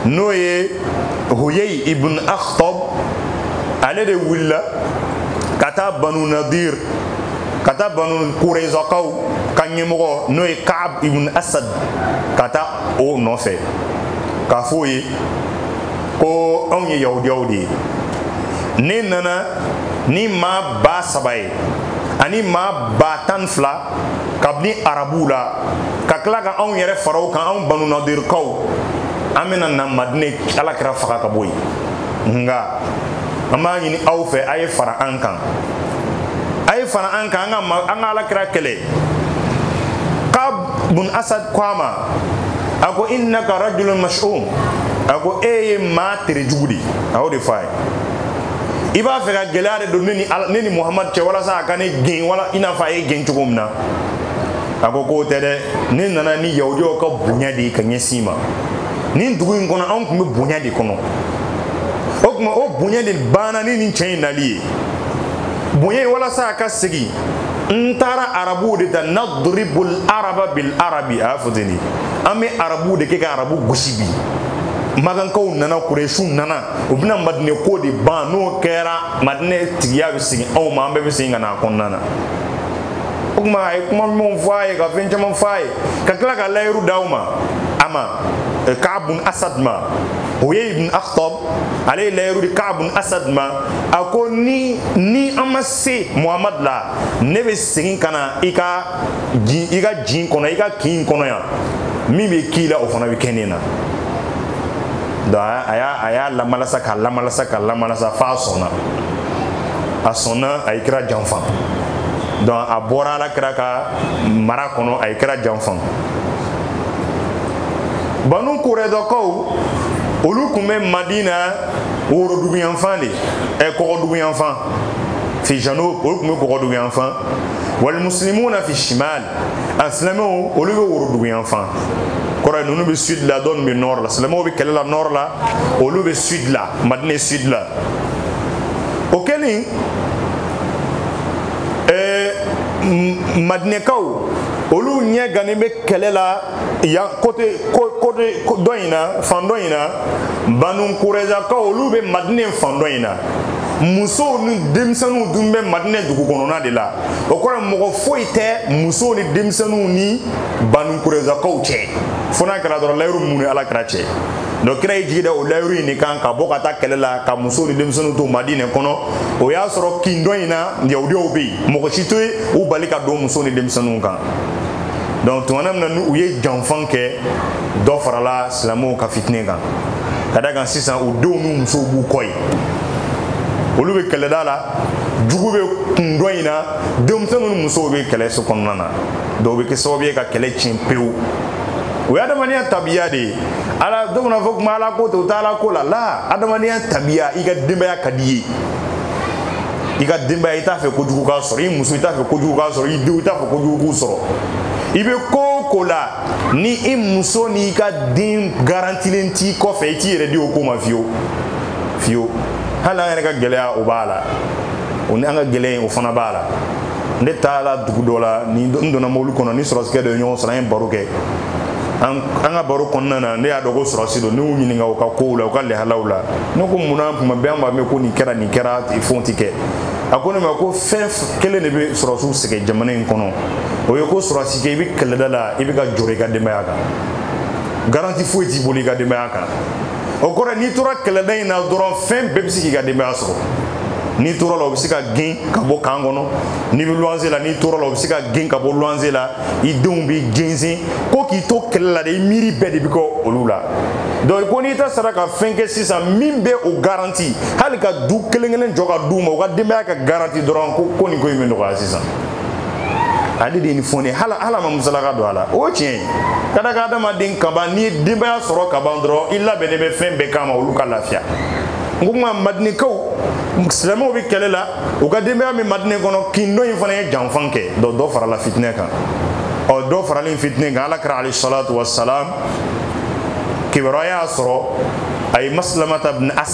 n'o ye huyei ibn akhtob ale de wulila ka taa banu nadir ka taa banu kurezakaw ka ɲɛmɔgɔ n'o ye kaab ibn asad ka taa o nɔfɛ k'a fɔ o ye ko anw ye yahudiyaw de ye ne nana ni maa ba saba ye ani maa ba tan fila kabini arabuw la ka tila ka anw yɛrɛ fara o kan anw banu nadirikaw an bɛna na madinɛ ala kira faga ka bɔ yen nka an b'a ɲini aw fɛ a ye fara an kan a ye fara an kan an ka an ka ala kira kɛlɛ kaab ibn asad ko a ma a ko innaka rajulun mash'um a ko e ye maa tere jugu de a y'o de fɔ a ye i b'a fɛ ka gɛlɛya de don ne ni ne ni muhamadu cɛ walasa a ka ne gɛn wala i n'a fɔ a y'e gɛn cogo min na a ko k'o tɛ dɛ ne nana ni yahudiyaw ka bonya de ye ka ɲɛsin i ma nin dugu in kɔnɔ anw tun bɛ bonya de kɔnɔ o tuma o bonya de banna ni nin cɛ in nali ye bonya in walasa a ka segin n taara arabuw de ta nadribul araba bil arabi a y'a fɔ ten de an bɛ arabuw de kɛ ka arabu gosi bi makankaw nana kuresiw nana u bɛna madinɛ ko de ban n'o kɛra madinɛ tigiya bɛ segin anw ma an bɛɛ bɛ segin ka na a kɔnɔna na o tuma a ye kuma ɲumanw fɔ a ye ka fɛn caman fɔ a ye ka tila ka layiru d'aw ma a ma kaab ibn asad ma huyay ibn akhtab ale ye layiru di ka'ab bun asad ma a ko ni ni an ma se muhamad la ne bɛ segin ka na i ka jin i ka jin kɔnɔ i ka kin kɔnɔ yan min bɛ k'i la o fana bɛ kɛ ne na donc a y'a a y'a lamalasa k'a lamalasa k'a lamalasa f'a sɔnna a sɔnna a ye kira janfa donc a bɔra ala kira ka mara kɔnɔ a ye kira janfa banu kurezakaw olu tun bɛ madina woroduguyanfan de ɛ kɔgɔduguyanfan fi janub olu tun bɛ kɔgɔduguyanfan wal muslimuna fi shimal a silamɛw olu bɛ woroduguyanfan kɔrɔ ye ninnu bɛ sud la dɔw bɛ nord la silamɛw bɛ kɛlɛ la nord la olu bɛ sud la madina sud la o kɛlen ɛɛ madinɛkaw olu ɲɛ gannen bɛ kɛlɛ la yan côté côté dɔ in na fan dɔ in na banu kurezakaw olu bɛ madinɛ fan dɔ in na musow ni denmisɛnninw dun bɛ madinɛ dugu kɔnɔna de la o kɔrɔ mɔgɔ foyi tɛ musow ni denmisɛnninw ni banu kurezakaw cɛ fo n'a kɛra dɔrɔn layiru min b'u ni ala kira cɛ donc kira y'i jigi da o layiru in de kan ka bɔ ka taa kɛlɛ la ka musow ni denmisɛnninw to madinɛ kɔnɔ o y'a sɔrɔ kin dɔ in na yahudiyaw bɛ yen mɔgɔ si tɛ yen u bali ka don musow ni denmisɛnninw kan donc tumana min na n'u ye janfa kɛ dɔ farala silamɛw ka fitinɛ kan ka da kan sisan u denw n'u musow b'u kɔ ye olu bɛ kɛlɛda la jugu bɛ kun dɔ in na denmisɛnninw ni musow bɛ kɛlɛ so kɔnɔna na donc o bɛ kɛ sababu ye ka kɛlɛ tiɲɛ pewu o ye adamadenya tabiya de ye ala dɔ fana fɔ kuma ala ko tɛ o tɛ ala ko la la adamadenya tabiya i ka denbaya ka di i ye i ka denbaya i t'a fɛ kojugu k'a sɔrɔ i muso i t'a fɛ kojugu k'a sɔrɔ i denw i t'a fɛ kojugu k'u sɔrɔ i bɛ ko o ko la ni i muso n'i ka den garantilen t'i kɔfɛ i t'i yɛrɛ di o ko ma fiyewu fiyewu hali an yɛrɛ ka gɛlɛya o b'a la o ni an ka gɛlɛya in o fana b'a la ne taara dugu dɔ la ni n donna mobili kɔnɔ ni sɔrɔsikɛ dɔ ye ɲɔgɔn sɔrɔ an ye baro kɛ an ka baro kɔnɔna na ne y'a dɔn ko sɔrɔsi don ne y'u ɲininka u ka kow la u ka lahalaw la ne ko mun na kuma bɛɛ an b'a mɛn ko nin kɛra nin kɛra fɛnw tɛ kɛ a ko ne ma ko fɛn kelen de bɛ sɔrɔsiw sɛgɛn jamana in kɔnɔ o ye ko sɔrɔsikɛ i bɛ kɛlɛda la i bɛ ka jɔrɔ i ka denbaya kan garanti foyi t'i bolo i ka denbaya kan o kɔrɔ n'i tora kɛlɛda in na dɔrɔn fɛn bɛɛ bɛ se k'i ka denbaya sɔrɔ n'i tora la o bɛ se ka gen ka bɔ kan kɔnɔ n'i bɛ luwanse la n'i tora la o bɛ se ka gen ka bɔ luwanse la i denw bɛ jɛnsɛn ko k'i to kɛlɛ la de i miiri bɛɛ de bɛ kɛ olu la donc ko n'état sera ka fɛn kɛ sisan min bɛ o garanti hali ka du kelen kelen jɔ ka d'u ma u ka denbaya ka garanti dɔrɔn ko ko nin ko in bɛ nɔgɔya sisan ale de ye nin fɔ ne hala hala ma musalaka don a la o tiɲɛ ye ka da kan adamaden kaban n'i ye denbaya sɔrɔ kaban dɔrɔn i labɛnnen bɛ fɛn bɛɛ kama olu ka lafiya n ko nka madinɛkaw silamɛw bɛ kɛlɛ la u ka denbaya min madinɛ kɔnɔ kin dɔ in fana ye janfan kɛ dɔ dɔ farala fitinɛ kan ɔ dɔ faralen fitinɛ kan ala kira alayhi salatu wa salam kibaruya y'a sɔrɔ a ye maslamata bin as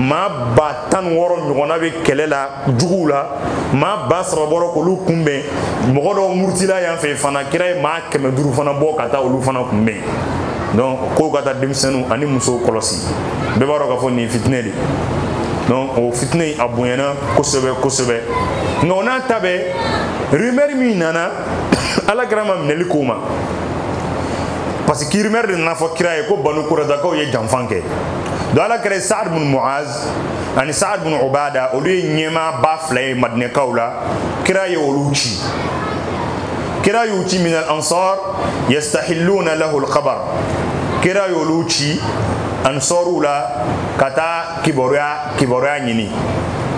maa ba tan ni wɔɔrɔ ɲɔgɔnna bɛ kɛlɛ la juguw la maa ba saba bɔra k'olu kunbɛn mɔgɔ dɔw murutila yan fɛ fana kira ye maa kɛmɛ duuru fana bɔ ka taa olu fana kunbɛn donc k'o ka taa denmisɛnninw ani musow kɔlɔsi bɛɛ b'a dɔn k'a fɔ nin ye fitinɛ de donc o fitinɛ in a bonyana kosɛbɛ kosɛbɛ nka o n'a ta bɛɛ rumeur min nana ala kira ma minɛli k'o ma parce que rumeur de nana fɔ kira ye ko banu kurɛdakaw ye janfan kɛ donc ala kira saad bin muaz ani saad bin ubada olu ye ɲɛmaa ba fila ye madinɛkaw la kira ye olu ci kira y'u ci minal ansar yastahilluna lahu alkhabar kira y'olu ci ansariw la ka taa kibaruya kibaruya ɲini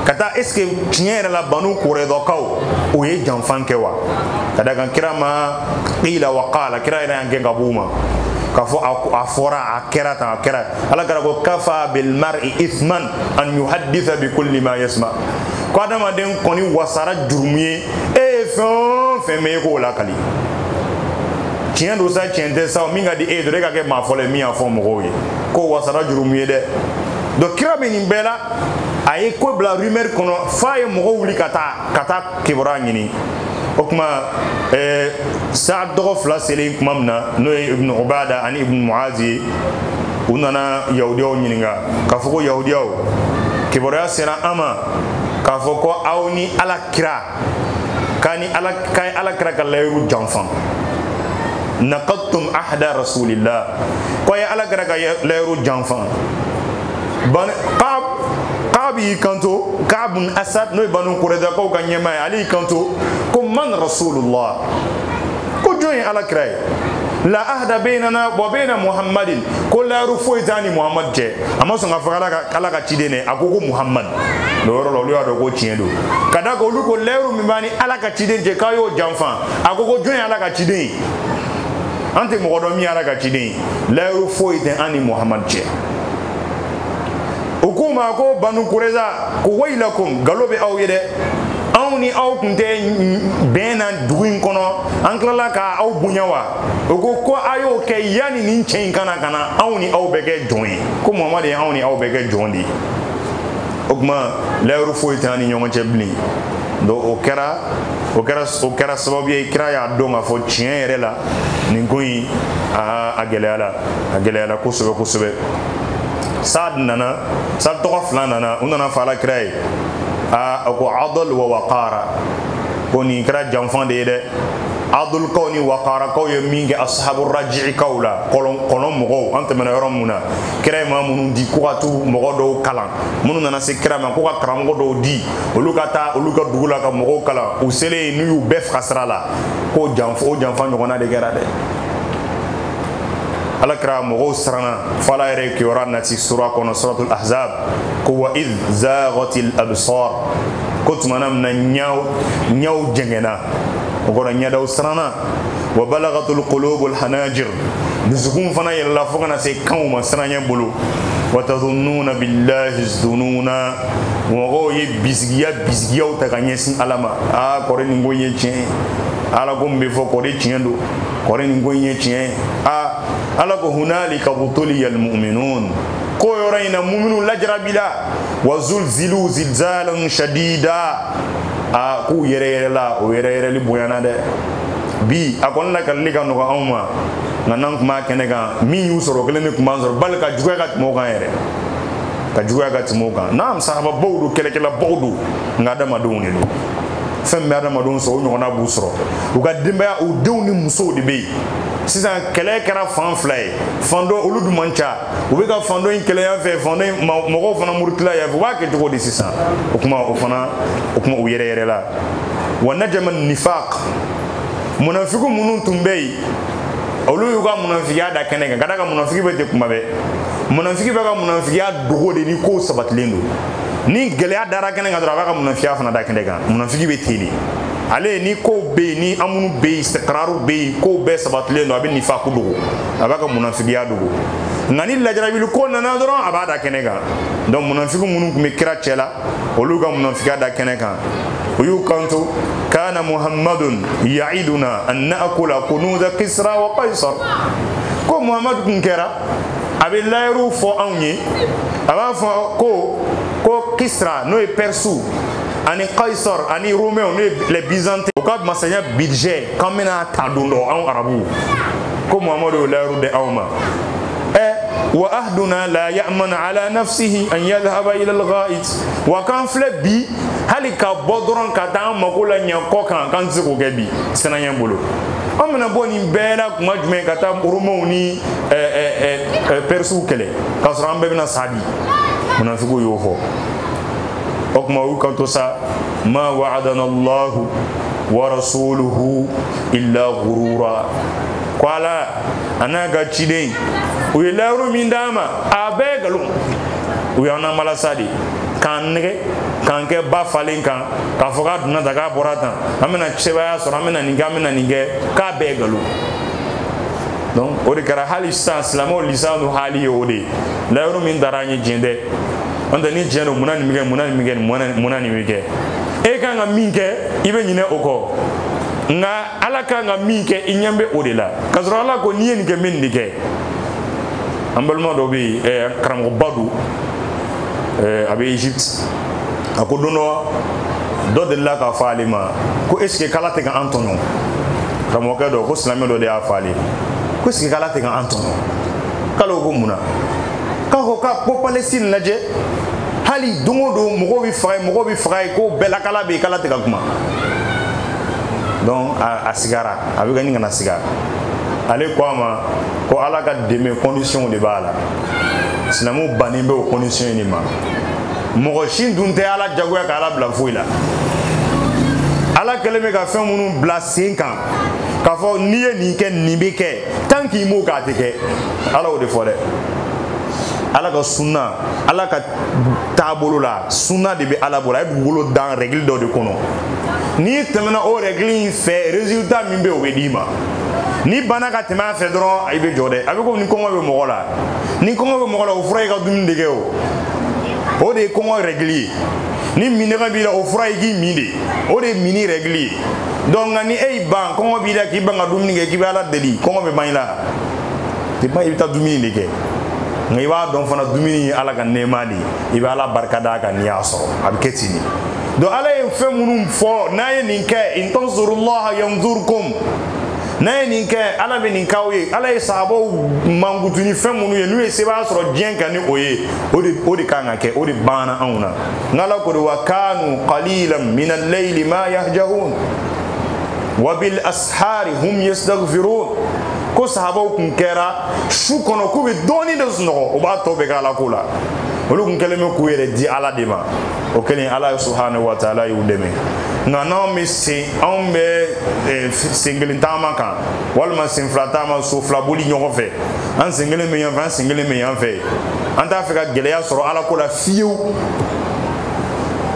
ka taa est ce que tiɲɛ yɛrɛ la banu kurɛdakaw o ye janfan kɛ wa ka da kan kira ma qila wa qala kira yɛrɛ y'an gɛn ka b'u ma k'a fɔ a fɔra a kɛra tan a kɛra ala kira ko kafa bilmari isman an yuhadisa bi kulli ma yasma ko adamaden kɔni wasara jurumu ye e ye fɛn o fɛn mɛn e k'o lakali tiɲɛ don sa tiɲɛ tɛ sa min ka di e ye dɔrɔn e ka kɛ maa fɔlɔ ye min y'a fɔ mɔgɔw ye k'o wasara jurumu ye dɛ donc kira bɛ nin bɛɛ la a ye ko bila rumeur kɔnɔ f'a ye mɔgɔw wuli ka taa ka taa kibaruya ɲini o tuma eh, saad tɔgɔ fila selen tuma min na n'o ye ibnu ubada ani ibnu muazi ye u nana yahudiyaw ɲininka k'a fɔ ko yahudiyaw kibaruya sera an ma k'a fɔ ko aw ni ala kira k'a ni ala k'a ye ala kira ka layiru janfan naqadtum ahda rasulillah ko a ye ala kira ka layiru janfan ban kab kab y'i kanto kab bun asad n'o ye banu kurɛdakaw ka ɲɛmaa ye ale y'i kanto ko man rasulullah ko jɔn ye ala kira ye la ahda bainana wa baina muhammadin ko layiru foyi t'a ni muhammad cɛ a ma sɔn k'a fɔ ala ka ciden dɛ a ko ko muhammad o yɔrɔ la olu y'a dɔn ko tiɲɛ don ka da kan olu ko layiru min b'a ni ala ka ciden cɛ k'a y'o janfa a ko ko jɔn ye ala ka ciden ye an tɛ mɔgɔ dɔn min ye ala ka ciden ye layiru foyi tɛ an ni muhammad cɛ u k'u ma ko banu kureza ko wayilakum galo bɛ aw ye dɛ anw ni aw tun tɛ bɛn na dugu in kɔnɔ an tilala ka aw bonya wa o ko ko a y'o kɛ yanni nin cɛ in ka na ka na anw ni aw bɛɛ kɛ jɔn ye ko muhamadu ye anw ni aw bɛɛ kɛ jɔn de ye o kuma layiru foyi tɛ an ni ɲɔgɔn cɛ bilen donc o kɛra o kɛra o kɛra sababu ye kira y'a dɔn k'a fɔ tiɲɛ yɛrɛ la nin ko in a gɛlɛyala a gɛlɛyala kosɛbɛ kosɛbɛ sad nana sad tɔgɔ fila nana u nana fɔ ala kira ye a ko adol wa waqara ko nin kɛra janfan de ye dɛ adolkaw ni wakarakaw ye min kɛ ashabu rajiikaw la kɔlɔn mɔgɔw an tɛmɛna yɔrɔ mun na kira ye maa minnu di ko ka t'u mɔgɔ dɔw kalan minnu nana se kira ma ko ka karamɔgɔ dɔw di olu ka taa olu ka dugu la ka mɔgɔw kalan u selen u y'u bɛɛ faga sira la k'o janfa o janfa ɲɔgɔnna de kɛra dɛ ala kira mɔgɔw siranna fo ala yɛrɛ kibaruya nati sura kɔnɔ suratul ahzab ko wa id zaghatil absar ko tuma na min na ɲaw ɲaw jɛngɛnna o kɔrɔ ɲɛdaw siranna wa balagatul qulubul hanajir dusukunw fana yɛlɛla fo ka na se kanw ma siranɲɛ bolo wa tadununa billahi zununa mɔgɔw ye bisigiya bisigiyaw ta ka ɲɛsin ala ma aa kɔrɔ nin ko ye tiɲɛ ye ala ko min bɛ fɔ kɔrɔ tiɲɛ don kɔrɔ nin ko in ye tiɲɛ ye a ala ko hunalika butuliyal muminun ko yɔrɔ in na muminu lajarabila wa zulzilu zilzalan shadida a k'u yɛrɛyɛrɛla o yɛrɛyɛrɛli bonyana dɛ bi a kɔni lakalili ka nɔgɔ anw ma nka n'an tun b'a kɛnɛ kan min y'u sɔrɔ kelen de tun b'an sɔrɔ bali ka juguya ka tɛmɛ o kan yɛrɛ ka juguya ka tɛmɛ o kan naam sahababaw don kɛlɛkɛlabaw don nka adamadenw de don fɛn min bɛ adamadenw sɔrɔ o ɲɔgɔnna b'u sɔrɔ u ka denbaya u denw ni musow de bɛ yen sisan kɛlɛ kɛra fan fila ye fan dɔ olu dun man ca u bɛ ka fan dɔ in kɛlɛ yan fɛ fan dɔ in mɔgɔw fana murutila yan fɛ u b'a kɛ cogo di sisan o kuma o fana o kuma u yɛrɛyɛrɛla wa najama nifaq munafiku minnu tun bɛ yen olu y'u ka munafigiya da kɛnɛ kan ka d'a kan munafigi bɛ ten kuma bɛɛ munafigi b'a ka munafigiya dogo de ni kow sabatilen don ni gɛlɛya dara kɛnɛ kan dɔrɔn a b'a ka munafigiya fana da kɛnɛ kan munafiki bɛ ten de ale ni kow bɛ yen ni amunu bɛ yen istikiraru bɛ yen kow bɛɛ sabatilen don a bɛ nifaku dogo a b'a ka munafigiya dogo nka ni lajarabili ko nana dɔrɔn a b'a da kɛnɛ kan donc munafiki minnu tun bɛ kira cɛ la olu ka munafigiya da kɛnɛ kan u y'u kanto kana muhammadun yaiduna an naakula kunuza kisra wa kaisar ko muhamadu tun kɛra a bɛ layiru fɔ anw ye a b'a fɔ ko kisra n'o ye pɛrisiw ani kaisar ani romains n'o ye les byzantins u ka masaya budget k'an bɛna ta don dɔ anw arabuw ko muhamadu y'o layiru di anw ma wa ahaduna la ya'manu ala nafsihi an yadhhaba ila al-gha'it wa k'an filɛ bi hali ka bɔ dɔrɔn ka taa an mako laɲɛ kɔkan k'an tɛ se k'o kɛ bi siranya bolo an bɛna bɔ nin bɛɛ la tuma jumɛn ka taa romains ni pɛrisiw kɛlɛ k'a sɔrɔ an bɛɛ bɛna sa bi munafigiw y'o fɔ o tuma u y'u kanto sa ma wa'adana allahu wa rasuluhu illa ghurura ko ala a n'a ka ciden u ye layiru min d'an ma a bɛɛ nkalon u y'an namala sa de k'an nɛgɛ k'an kɛ ba falen kan k'a fɔ k'a donna tan k'a bɔra tan an bɛna sebaaya sɔrɔ an bɛna nin kɛ an bɛna nin kɛ k'a bɛɛ nkalon donc o de kɛra hali sisan silamɛw lisanu hali ye o de ye layiru min tara an ye tiɲɛ tɛ n'o tɛ ni tiɲɛ don munna nin bɛ kɛ munna nin bɛ kɛ munna nin bɛ kɛ e kan ka min kɛ i bɛ ɲinɛ o kɔ nka ala kan ka min kɛ i ɲɛ bɛ o de la k'a sɔrɔ ala ko n'i ye nin kɛ n bɛ nin de kɛ an balima dɔ bɛ yen karamɔgɔba don a bɛ egypte a ko don dɔ dɔ delila k'a fɔ ale ma ko est ce que k'ala tɛ ka an tɔɲɔ karamɔgɔkɛ dɔ ko silamɛ dɔ de y'a fɔ ale ko est ce que k'ala tɛ ka an tɔɲɔ k'ale ko munna k'a ko k'a ko palestine lajɛ hali don o don mɔgɔw bɛ faga yen mɔgɔw bɛ faga yen ko bɛɛ lakala bɛ yen k'ala tɛ ka kuma donc a, a sigara a bɛ ka ɲini ka na siga ale ko a ma ko ala ka dɛmɛ condition de b'a la silamɛw bannen bɛ o condition in de ma mɔgɔ si dun tɛ ala jagoya ka ala bila foyi la ala kɛlen bɛ ka fɛn minnu bila sen kan k'a fɔ n'i ye nin kɛ nin bɛ kɛ tant qu'i m'o k'a tɛ kɛ ala y'o de fɔ dɛ ala ka sunna ala ka taabolo la sunna de bɛ ala bolo a ye dugukolo dan rɛgili dɔ de kɔnɔ n'i tɛmɛna o rɛgili in fɛ résultat min bɛ o bɛ d'i ma n'i banna ka tɛmɛ a fɛ dɔrɔn i bɛ jɔ dɛ a bɛ komi ni kɔngɔ bɛ mɔgɔ la ni kɔngɔ bɛ mɔgɔ la o fura y'i ka dumuni de kɛ o o de ye kɔngɔ rɛgili ye ni minnɔgɔ b'i la o fura y'i k'i min de o de ye minni rɛgili ye donc nka ni e y'i ban kɔngɔ b'i la k'i ban ka dumuni kɛ k'i bɛ ala deli kɔngɔ bɛ ban i la tɛ ban i bɛ taa dumuni de kɛ nka i b'a dɔn fana dumuni ye ala ka nɛɛma de ye i bɛ ala barika d'a kan n'i y'a sɔrɔ a bɛ kɛ ten de donc ala ye fɛn minnu fɔ n'a ye nin kɛ in tansurullaha yansurkum n'a ye nin kɛ ala bɛ nin k'aw ye ala ye sahabaw mankutu ni fɛn minnu ye n'u ye sebaaya sɔrɔ diɲɛ kan ni o ye o de o de kan ka kɛ o de banna anw na ala ko di wa kanu qalilan min al-layli ma yahja'un wa bil ashari hum yastaghfirun ko sahabaw kun kɛra su kɔnɔ k'u bɛ dɔɔnin de sunɔgɔ o b'a tɔ bɛɛ kɛ ala ko la olu kun kɛlen bɛ k'u yɛrɛ di ala de ma o kɛlen ala subhanahu wa taala y'u dɛmɛ nka n'anw bɛ sen anw bɛ eh, sen kelen taama kan walima sen fila taama so fila boli ɲɔgɔn fɛ an sen kelen bɛ yan fɛ an sen kelen bɛ yan fɛ an t'a fɛ ka gɛlɛya sɔrɔ ala ko la fiyewu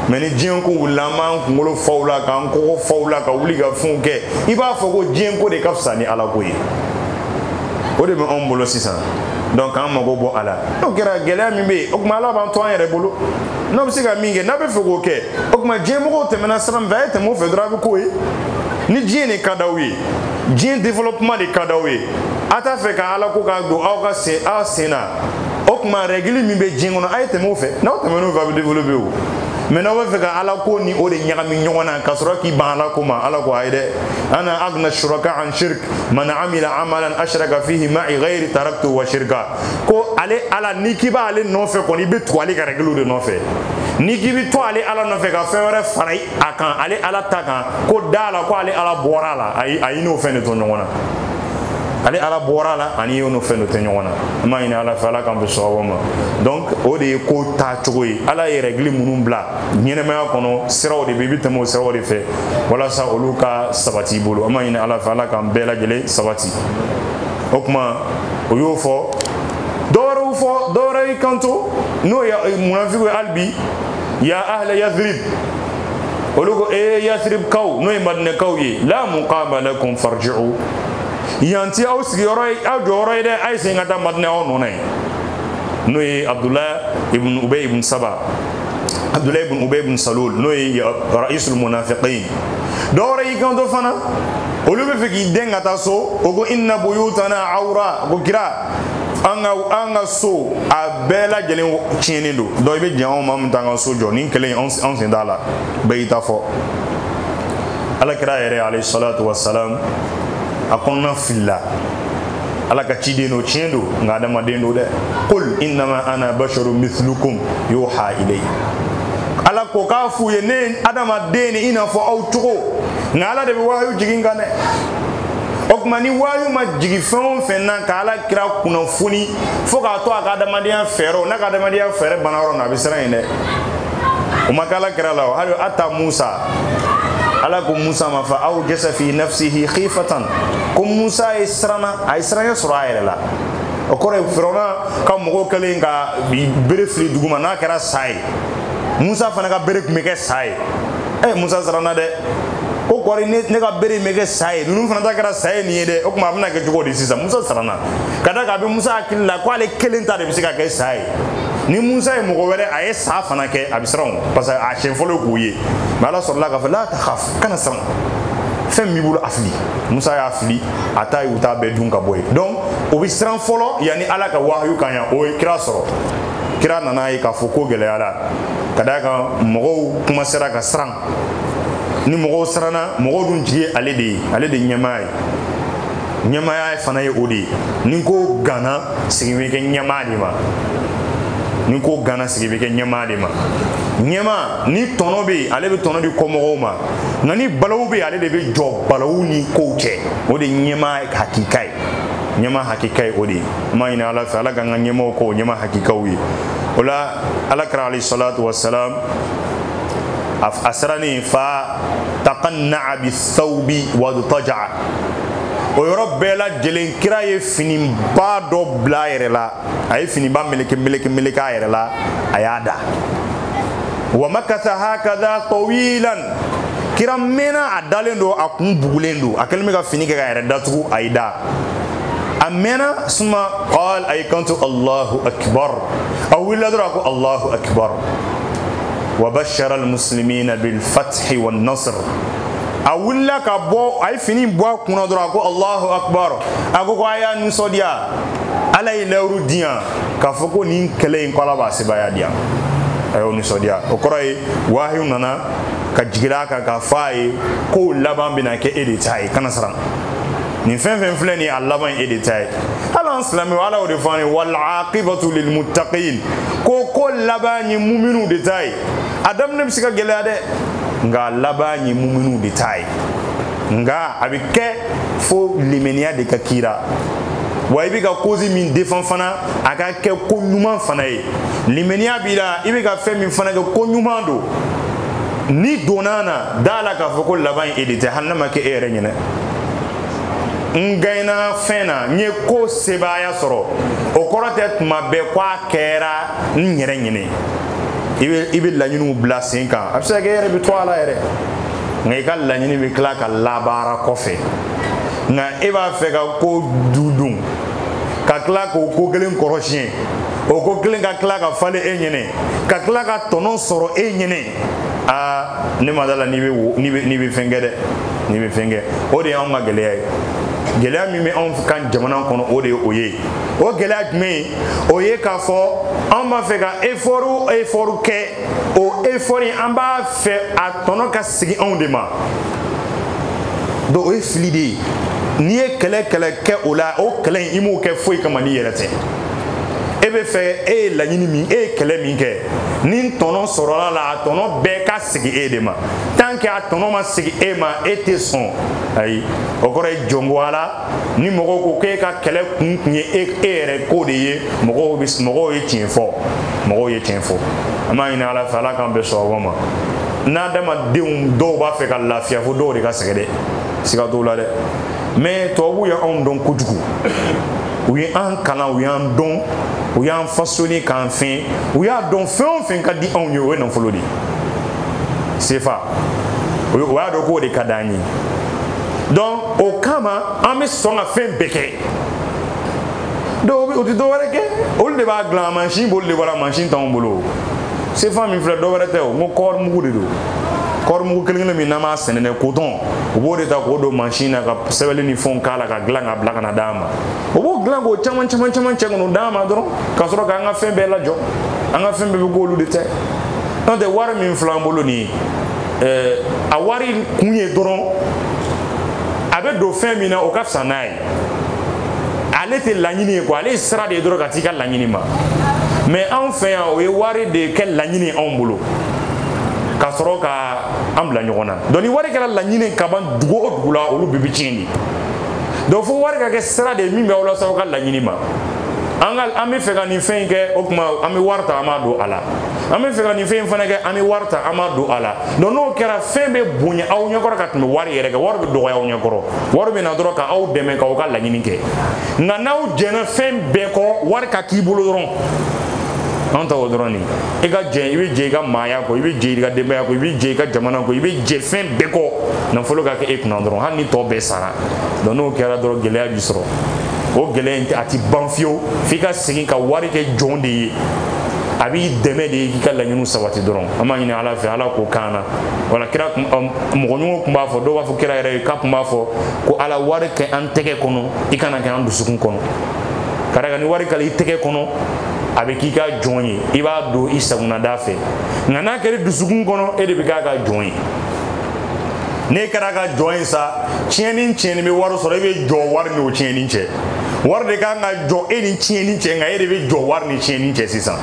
mais ni diɲɛ ko wulila an b'an kunkolo fa o la k'an kɔgɔ fa o la ka wuli ka fɛnw kɛ i b'a fɔ ko diɲɛ ko de ka fisa ni ala ko ye o de bɛ anw bolo sisan donc an mago bɔ a la n'o kɛra gɛlɛya min bɛ yen o tuma ala b'an to an yɛrɛ bolo n'aw bɛ se ka min kɛ n'a bɛ fɛ k'o kɛ o tuma diɲɛmɔgɔw tɛmɛna sira min fɛ a ye tɛmɛ o fɛ dɔrɔn a bɛ k'o ye ni diɲɛ de ka d'aw ye diɲɛ développement de ka d'aw ye a t'a fɛ ka ala ko k'a don aw ka sen aw sen na o tuma règle min bɛ diɲɛ kɔnɔ a ye tɛmɛ o fɛ n'aw tɛmɛna o fɛ a bɛ développer o mais n'aw bɛ fɛ ka ala ko ni o de ɲagami ɲɔgɔn na ka sɔrɔ k'i ban ala ko ma ala ko ayi dɛ ana aghna shuraka an shirk man amila amalan ashraka fihi ma'i ghairi taraktu wa shirka ko ale ala n'i k'i b'ale nɔfɛ kɔni i bɛ tugu ale ka rɛgiliw de nɔfɛ n'i k'i bɛ to ale ala nɔfɛ ka fɛn wɛrɛ fara a kan ale ala ta kan ko dɔ la ko ale ala bɔra a la ayi a y'i n'o fɛn de to ɲɔgɔn na ale ala bɔra a la ani y'o n'o fɛn de to ɲɔgɔn na an b'a ɲini ala fɛ ala k'an bɛ sababu ma donc o de ye ko taa cogo ye ala ye rɛgili minnu bila ɲɛnamaya kɔnɔ siraw de bɛ i bɛ tɛmɛ o siraw de fɛ walasa olu ka sabati i bolo an b'a ɲini ala fɛ ala k'an bɛɛ lajɛlen sabati. o tuma o y'o fɔ dɔwɛrɛw fɔ dɔwɛrɛ y'i kanto n'o ye eh, munafiku ye hali bi ya ahla yathrib olu ko ee eh, yathrib kaw n'o ye madinɛkaw ye la muqama lakum farji'u yan tɛ aw sigiyɔrɔ ye aw jɔyɔrɔ ye dɛ a ye segin ka taa madinɛ aw nɔ na yen n'o ye abdulayi ibn ubay ibn saba abdulayi ibn ubay ibn salul n'o ye ra'isul munafiqin dɔwɛrɛ y'i kanto fana olu bɛ fɛ k'i dɛn ka taa so o ko inna buyutana awra ko kira an ka an ka so a bɛɛ lajɛlen tiɲɛnen don donc i bɛ jɛn anw ma an bɛ t'an ka so jɔ nin kɛlɛ anw sen t'a la bɛɛ y'i ta fɔ ala kira yɛrɛ alayhi salatu wa salam a kɔnɔna filila ala ka ciden don tiɲɛ don nka adamaden don dɛ qul innama ana basharun mithlukum yuha ilayya ala ko k'a f'u ye ne ye adamaden i n'a fɔ aw cogo nka ala de bɛ wahayu jigin a kan dɛ o tuma ni wahayu ma jigin fɛn o fɛn na ka ala kira kunnafoni fo k'a to a ka adamadenya fɛɛrɛw n'a ka adamadenya fɛɛrɛ banna yɔrɔ min a bɛ siran yen dɛ o ma kɛ ala kira la o hali a ta musa ala ko musa ma fa aw jasa fi nafsihi khifatan ko musa ye siranna a ye siranya sɔrɔ a yɛrɛ la o kɔrɔ ye firawuna ka mɔgɔw kɛlen ka bere fili duguma n'a kɛra sa ye musa fana ka bere tun bɛ kɛ sa ye ɛ eh, musa siranna dɛ ko kɔri ne ka bere in bɛ kɛ sa ye ninnu fana ta kɛra sa ye nin ye dɛ o tuma a bɛna kɛ cogo di sisan musa siranna ka da kan a bɛ musa hakili la ko ale kelen ta de bɛ se ka kɛ sa ye ni musa ye mɔgɔ wɛrɛ a ye sa fana kɛ a bɛ siran o parce que a siɲɛ fɔlɔ k'o ye mais ala sɔrɔla k'a fɔ la takhaf kana siran fɛn min b'i bolo a fili musa y'a fili a ta ye u ta bɛɛ dun ka bɔ yen donc o bɛ siran fɔlɔ yanni ala ka wahayu ka na yan o ye kira sɔrɔ kira nana a ye k'a fɔ ko gɛlɛyara ka d'a kan mɔgɔw commencera ka siran ni mɔgɔw siranna mɔgɔw dun jigi ye ale de ye ale de ɲɛmaa ye ɲɛmaaya fana ye o de ye ni ko ganna sigi bɛ kɛ ɲɛmaa de ma ni ko ganna sigi bɛ kɛ ɲɛmaa de ma ɲɛmaa ni tɔnɔ bɛ yen ale bɛ tɔnɔ di kɔmɔgɔw ma nka ni balawu bɛ yen ale de bɛ jɔ balawu ni kow cɛ o de ye ɲɛmaa hakika ye ɲɛmaa hakika ye o de ye an b'a ɲini ala fɛ ala k'an ka ɲɛmaaw k'o ɲɛmaa hakikaw ye o la ala kira alayhi salatu wassalam a sirannen fa taqanna'a bithawbi wadtaja'a o yɔrɔ bɛɛ lajɛlen kira ye finiba dɔ bila a yɛrɛ la a ye finiba meleke meleke meleke a yɛrɛ la a y'a da wa makatha hakadha tawilan kira mɛnna a dalen don a kun bugulen don a kɛlen bɛ ka fini kɛ k'a yɛrɛ datugu a y'i da a mɛnna thumma qal a y'i kanto allahu akbar a wulila dɔrɔn a ko allahu akbar wa bashara almuslimina bilfathi wannasr a wulila ka bɔ a ye fini bɔ a kunna dɔrɔn a ko allahu akbar a ko ko a y'a nisɔndiya ala ye layiru di yan k'a fɔ ko nin kɛlɛ in ko ala b'a sebaya di yan a y'o nisɔndiya o kɔrɔ ye wahayu nana ka jigin a kan k'a fɔ a ye ko laban bɛna kɛ e de ta ye kana siran nin fɛn fɛn filɛ nin ye a laban ye e de ta ye hali an silamɛw ala y'o de fɔ an ye wal aqibatu lil muttaqin ko ko laban ye muminiw de ta ye a daminɛ bɛ se ka gɛlɛya dɛ nka laban ye muminiw de ta ye nka a bɛ kɛ fo limaniya de ka k'i la wa i bɛ ka cause min defan fana a ka kɛ ko ɲuman fana ye limaniya b'i la i bɛ ka fɛn min fana kɛ ko ɲuman don ni donna na d'a la k'a fɔ ko laban ye e de ta ye hali n'a ma kɛ e yɛrɛ ɲɛna n gaɲena fɛn na n ye ko sebaaya sɔrɔ o kɔrɔ tɛ tuma bɛɛ ko a kɛra n yɛrɛ ɲɛna i bɛ i bɛ laɲiniw bila sen kan a bɛ se ka kɛ e yɛrɛ bɛ to a la yɛrɛ nka i ka laɲini bɛ tila ka labaara kɔfɛ nka e b'a fɛ ka ko du dun ka tila k'o ko kelen kɔrɔsi yen o ko kelen ka tila ka falen e ɲɛna ka tila ka tɔnɔ sɔrɔ e ɲɛna aa ne ma d'a la n'i bɛ fɛn kɛ dɛ n'i bɛ fɛn kɛ o de y'anw ka gɛlɛya ye gɛlɛya min bɛ anw kan jamana kɔnɔ o de ye o ye o gɛlɛya jumɛn ye o ye k'a fɔ anw b'a fɛ ka efɔriw efɔriw kɛ o efɔri an b'a fɛ a tɔnɔ ka sigi anw de ma donc o ye fili de ye n'i ye kɛlɛ kɛlɛ kɛ o la o kɛlɛ in i m'o kɛ foyi kama n'i yɛrɛ tɛ e b'a fɛ e ye laɲini min e ye kɛlɛ min kɛ ni tɔnɔ sɔrɔl'a la a tɔnɔ bɛɛ ka sigi e de ma tant que a tɔnɔ ma sigi e ma e tɛ sɔn ayi o kɔrɔ ye jɔn ko a la ni mɔgɔw ko k'e ka kɛlɛ kun kun ye e, e yɛrɛ ko de ye mɔgɔw bɛ mɔgɔw ye tiɲɛ fɔ mɔgɔw ye tiɲɛ fɔ an b'a ɲini ala fɛ ala k'an bɛɛ sɔrɔ ma n'adamadenw dɔw b'a fɛ ka lafiya fo dɔw de ka sɛgɛn dɛ siga t'o la dɛ mais tubabuw ye anw dɔn kojugu u ye an kalan u y'an dɔn u y'an fasoni k'an fɛn u y'a dɔn fɛn o fɛn ka di anw ye o ye nafolo de ye sefa u y'a dɔn k'o de ka d'an ye donc o kama an bɛ sɔn ka fɛn bɛɛ kɛ donc u tɛ dɔ wɛrɛ kɛ olu de b'a dilan mansin b'olu de bolo mansin t'anw bolo sefa min filɛ dɔ wɛrɛ tɛ o n ko kɔɔri mugu de don kɔɔri mugu kelen kelen min n'an b'a sɛnɛ dɛ kotɔn u b'o de ta k'o don mansin na ka sɛbɛnni ni fɛnw k'a la k'a dilan k'a bila ka na d'an ma u b'o dilan k'o caman caman caman cɛ ka n'o d'an ma dɔrɔn ka sɔrɔ k'an ka fɛn bɛɛ lajɔ an ka fɛn bɛɛ bɛ k'olu de ta ye n'o tɛ wari min filɛ an bolo nin ye a wari kun ye dɔrɔn a bɛ don fɛn min na o ka fisa n'a ye ale tɛ laɲini ye quoi ale ye sira de ye dɔrɔn ka t'i ka laɲini ma mais anw fɛ yan u ye wari de kɛ laɲini anw bolo ka sɔrɔ ka an bila ɲɔgɔn na donc ni wari kɛra laɲini ka ban dugu o dugu la olu bɛɛ bɛ tiɲɛ de donc fo wari ka kɛ sira de ye min bɛ aw lase aw ka laɲini ma an ka an bɛ fɛ ka nin fɛn in kɛ o tuma an bɛ wari ta an b'a don a la an bɛ fɛ ka nin fɛn in fana kɛ an bɛ wari ta an b'a don a la donc n'o kɛra fɛn bɛ bonya aw ɲɛkɔrɔ ka tɛmɛ wari yɛrɛ kan wari bɛ dɔgɔya aw ɲɛkɔrɔ wari bɛ na dɔrɔn ka aw dɛmɛ k'aw ka laɲini kɛ nka n'aw jɛnna fɛn bɛɛ kɔ wari ka k'i bolo dɔrɔn anw ta o dɔrɔn de ye i ka jɛ i bɛ jɛ i ka maaya kɔ i bɛ jɛ i ka denbaya kɔ i bɛ jɛ i ka jamana kɔ i bɛ jɛ fɛn bɛɛ kɔ nafolo ka kɛ e kunna dɔrɔn hali ni tɔ bɛɛ sara donc n'o kɛra dɔrɔn gɛlɛya b'i sɔrɔ o gɛlɛya in a ti ban fiyewu f'i ka segin ka wari kɛ jɔn de ye a b'i dɛmɛ de k'i ka laɲiniw sabati dɔrɔn an b'a ɲini ala fɛ ala k'o k'an na wala kira mɔgɔ ɲɔgɔn tun b'a fɔ dɔw b'a fɔ kira yɛrɛ ye k'a tun b'a fɔ ko ala wari kɛ an tɛgɛ kɔnɔ i kan'a kɛ an dusukun kɔnɔ ka d'a kan ni wari kɛla i tɛgɛ kɔnɔ a bɛ k'i ka jɔn ye i b'a don i sago na da fɛ nka n'a kɛr'i dusukun kɔnɔ e de bɛ k'a ka jɔn ye n'e kɛr'a ka jɔn ye sa tiɲɛni tiɲɛni bɛ wari sɔrɔ e bɛ jɔ wari n'o tiɲɛni cɛ wari de kan ka jɔ e ni tiɲɛni cɛ nka e de bɛ jɔ wari ni tiɲɛni cɛ sisan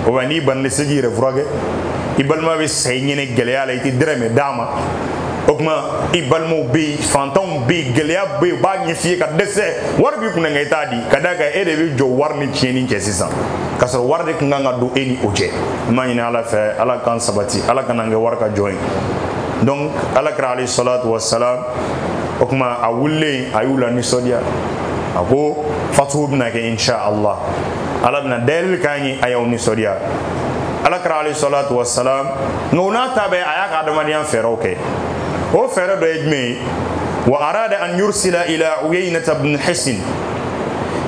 o bɛ n'i banana i tɛ se k'i yɛrɛ furakɛ i balima bɛ sa i ɲɛna gɛlɛya la i tɛ dɛrɛmɛ d'a ma o tuma i balimaw bɛ yen fantanw bɛ yen gɛlɛya bɛ yen u b'a ɲɛf'i ye ka dɛsɛ wari b'i kunna nka i t'a di ka d'a kan e de bɛ jɔ wari ni tiɲɛni cɛ sisan k'a sɔrɔ wari de tun kan ka don e ni o cɛ n b'a ɲini ala fɛ ala k'an sabati ala kan'an kɛ wari ka jɔn ye donc ala kira alayhi salatu wa salam o tuma a wulilen a y'u lanisɔndiya a ko fatu bɛna kɛ insha allah ala bɛna dayɛlɛli k'an ye a y'aw nisɔndiya ala kira alayhi salatu wassalam nka o n'a ta bɛɛ a y'a ka adamadenya fɛɛrɛw kɛ o fɛɛrɛ dɔ ye jumɛn ye wa arada an yursila ila uyainata bnu hisin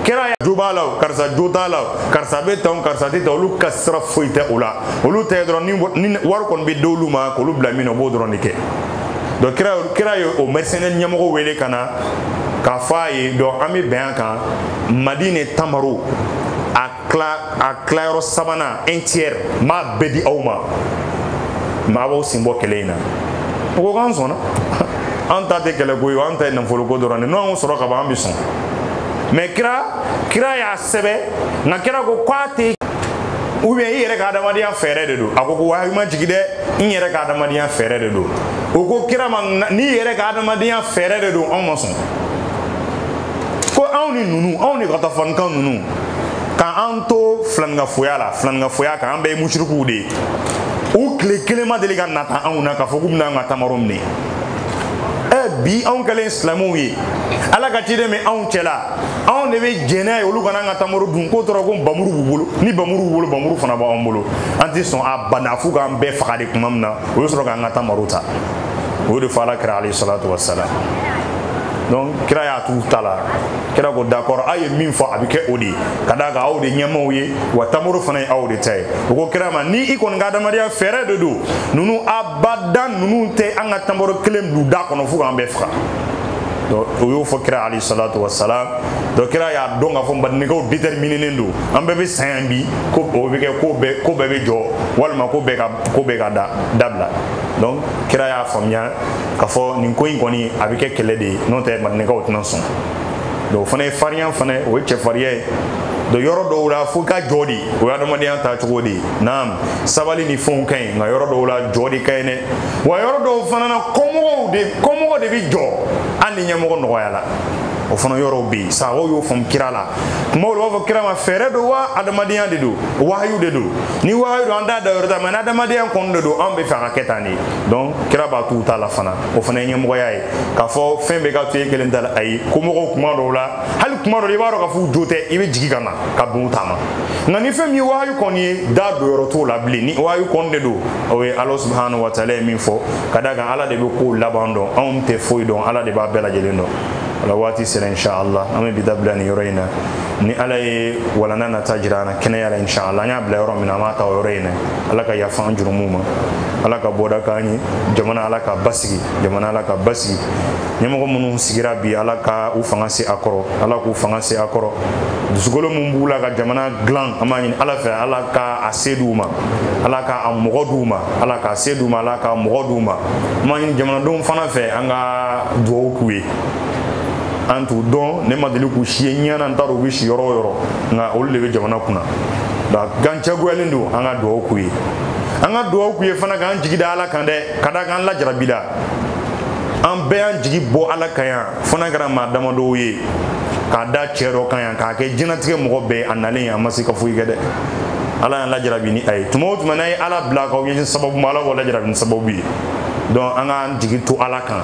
kira jo b'a la karisa jo t'a la karisa bɛ tan karisa tɛ tan olu ka sira foyi tɛ o la olu tɛ dɔrɔn ni wari kɔni bɛ d'olu ma k'olu bila min na u b'o dɔrɔn de kɛ donc kira kira ye o mercenaire ɲɛmɔgɔ wele ka na k'a fɔ a ye donc an bɛ bɛn a kan madine tamaro a tilayɔrɔ sabanan un tiers n b'a bɛɛ di aw ma aw b'aw sen bɔ kɛlɛ in na o ko k'an sɔnna an ta tɛ kɛlɛko ye an ta ye nafoloko dɔrɔn de n'an y'o sɔrɔ ka ban an bɛ sɔn mais kira y'a sɛbɛ nka kira ko k'a tɛ ou bien i yɛrɛ ka adamadenya fɛɛrɛ de don a ko ko wahayi ma jigi dɛ n yɛrɛ ka adamadenya fɛɛrɛ de don o ko kira ma n'i yɛrɛ ka adamadenya fɛɛrɛ de don anw ma sɔn ko anw ni ninnu anw ni gatafaninkan ninnu k'an to filaninkafoya la filaninkafoya kan an bɛɛ ye musirikuw de ye u tile kelen ma deli ka nata anw na k'a fɔ k'u bɛna an ka tamaro minɛ ɛ bi anw kɛlen silamɛw ye ala ka ciden bɛ anw cɛla anw de bɛ jɛn n'a ye olu ka na an ka tamaro dun k'o tora ko bamuru b'u bolo ni bamuru b'u bolo bamuru fana b'an bolo an tɛ sɔn abada f'u k'an bɛɛ faga de tuma min na u bɛ sɔrɔ k'an ka tamaro ta o de fɔ ala kira alayhi salatu wassalam donc kira y'a t'u ta la kira ko d'accord aw ye min fɔ a bɛ kɛ o de ye ka d'a kan aw de ɲɛmaaw ye wa tamaro fana ye aw de ta ye o ko kira ma ni i kɔni ka adamadenya fɛɛrɛ de don ninnu abadan ninnu tɛ an ka tamaro kelen don da kɔnɔ fo k'an bɛɛ faga donc o y'o fɔ kira alayhi salatu wassalam donc kira y'a dɔn k'a fɔ madinakaw déterminenen don an bɛɛ bɛ sa yan bi ko o bɛ kɛ ko bɛɛ ko bɛɛ bɛ jɔ walima ko bɛɛ ka ko bɛɛ ka da dabila donc kira y'a faamuya k'a fɔ nin ko in kɔni a bɛ kɛ kɛlɛ de ye n'o tɛ madinakaw tɛna sɔn donc o fana ye farinya fana o ye cɛfarinya ye donc yɔrɔ dɔw la fo ka jɔ de o ye adamadenya ta cogo de ye naam sabali ni fɛnw ka ɲi nka yɔrɔ dɔw la jɔ de ka ɲi dɛ wa yɔrɔ dɔw fana na kɔmɔgɔw de kɔmɔgɔ de bɛ jɔ hali ni ɲɛmɔgɔ nɔgɔyala o fana yɔrɔw bɛ yen sahabaw y'o faamu kira la kumaw la u b'a fɔ kira ma fɛɛrɛ don wa adamadenya de don wahayu de don ni wahayu don an t'a dayɔrɔ ta mais ni adamadenya kɔni de don anw b'a fɛ a ka kɛ tan de donc kira b'a t'u ta la fana o fana ye ɲɛmɔgɔya ye k'a fɔ fɛn bɛɛ ka to e kelen ta la ayi kɔmɔgɔw kuma dɔw la hali kuma dɔw la i b'a dɔn k'a fɔ u jo tɛ i bɛ jigin ka na ka bin u ta ma nka ni fɛn min ye wahayu kɔni ye da don yɔrɔ t'o la bilen ni wahayu kɔni de don o ye ala subhanahu wa taala ye min fɔ ka d'a kan ala de bɛ kow laban dɔn anw tɛ foyi dɔn ala de b'a bɛɛ lajɛlen dɔn o la waati sera inshallah an bɛ bi dabila nin yɔrɔ in na ni ala ye walanda nata jira an na kɛnɛya la inshallah an y'a bila yɔrɔ min na an b'a ta o yɔrɔ in na ala ka yafa an jurumuw ma ala ka bɔda k'an ye jamana ala k'a basigi jamana ala k'a basigi ɲɛmɔgɔ minnu sigira bi ala ka u fanga se a kɔrɔ ala k'u fanga se a kɔrɔ dusukolo min b'u la ka jamana dilan an b'a ɲini ala fɛ ala ka a se d'u ma ala ka a mɔgɔ d'u ma ala k'a se d'u ma ala ka mɔgɔ d'u ma an b'a ɲini jamanadenw fana fɛ an ka dugawu k'u ye an t'u dɔn ne ma deli k'u si ye ɲɛ na n t'a dɔn u bɛ si yɔrɔ o yɔrɔ nka olu de bɛ jamana kunna nka an jagoyalen don an ka dugawu k'u ye an ka dugawu k'u ye fana k'an jigi da ala kan dɛ ka d'a kan an lajarabila an bɛɛ y'an jigi bɔ ala kan yan fo n'a kɛra maa damadɔw ye k'a da cɛ dɔ kan yan k'a kɛ diɲɛlatigɛ mɔgɔ bɛɛ a nalen a ma se ka foyi kɛ dɛ ala y'an lajarabi ni a ye tuma o tuma n'a ye ala bila k'aw ɲɛsin sababu ma ala b'aw lajarabi ni sababu ye donc an k'an jigi to ala kan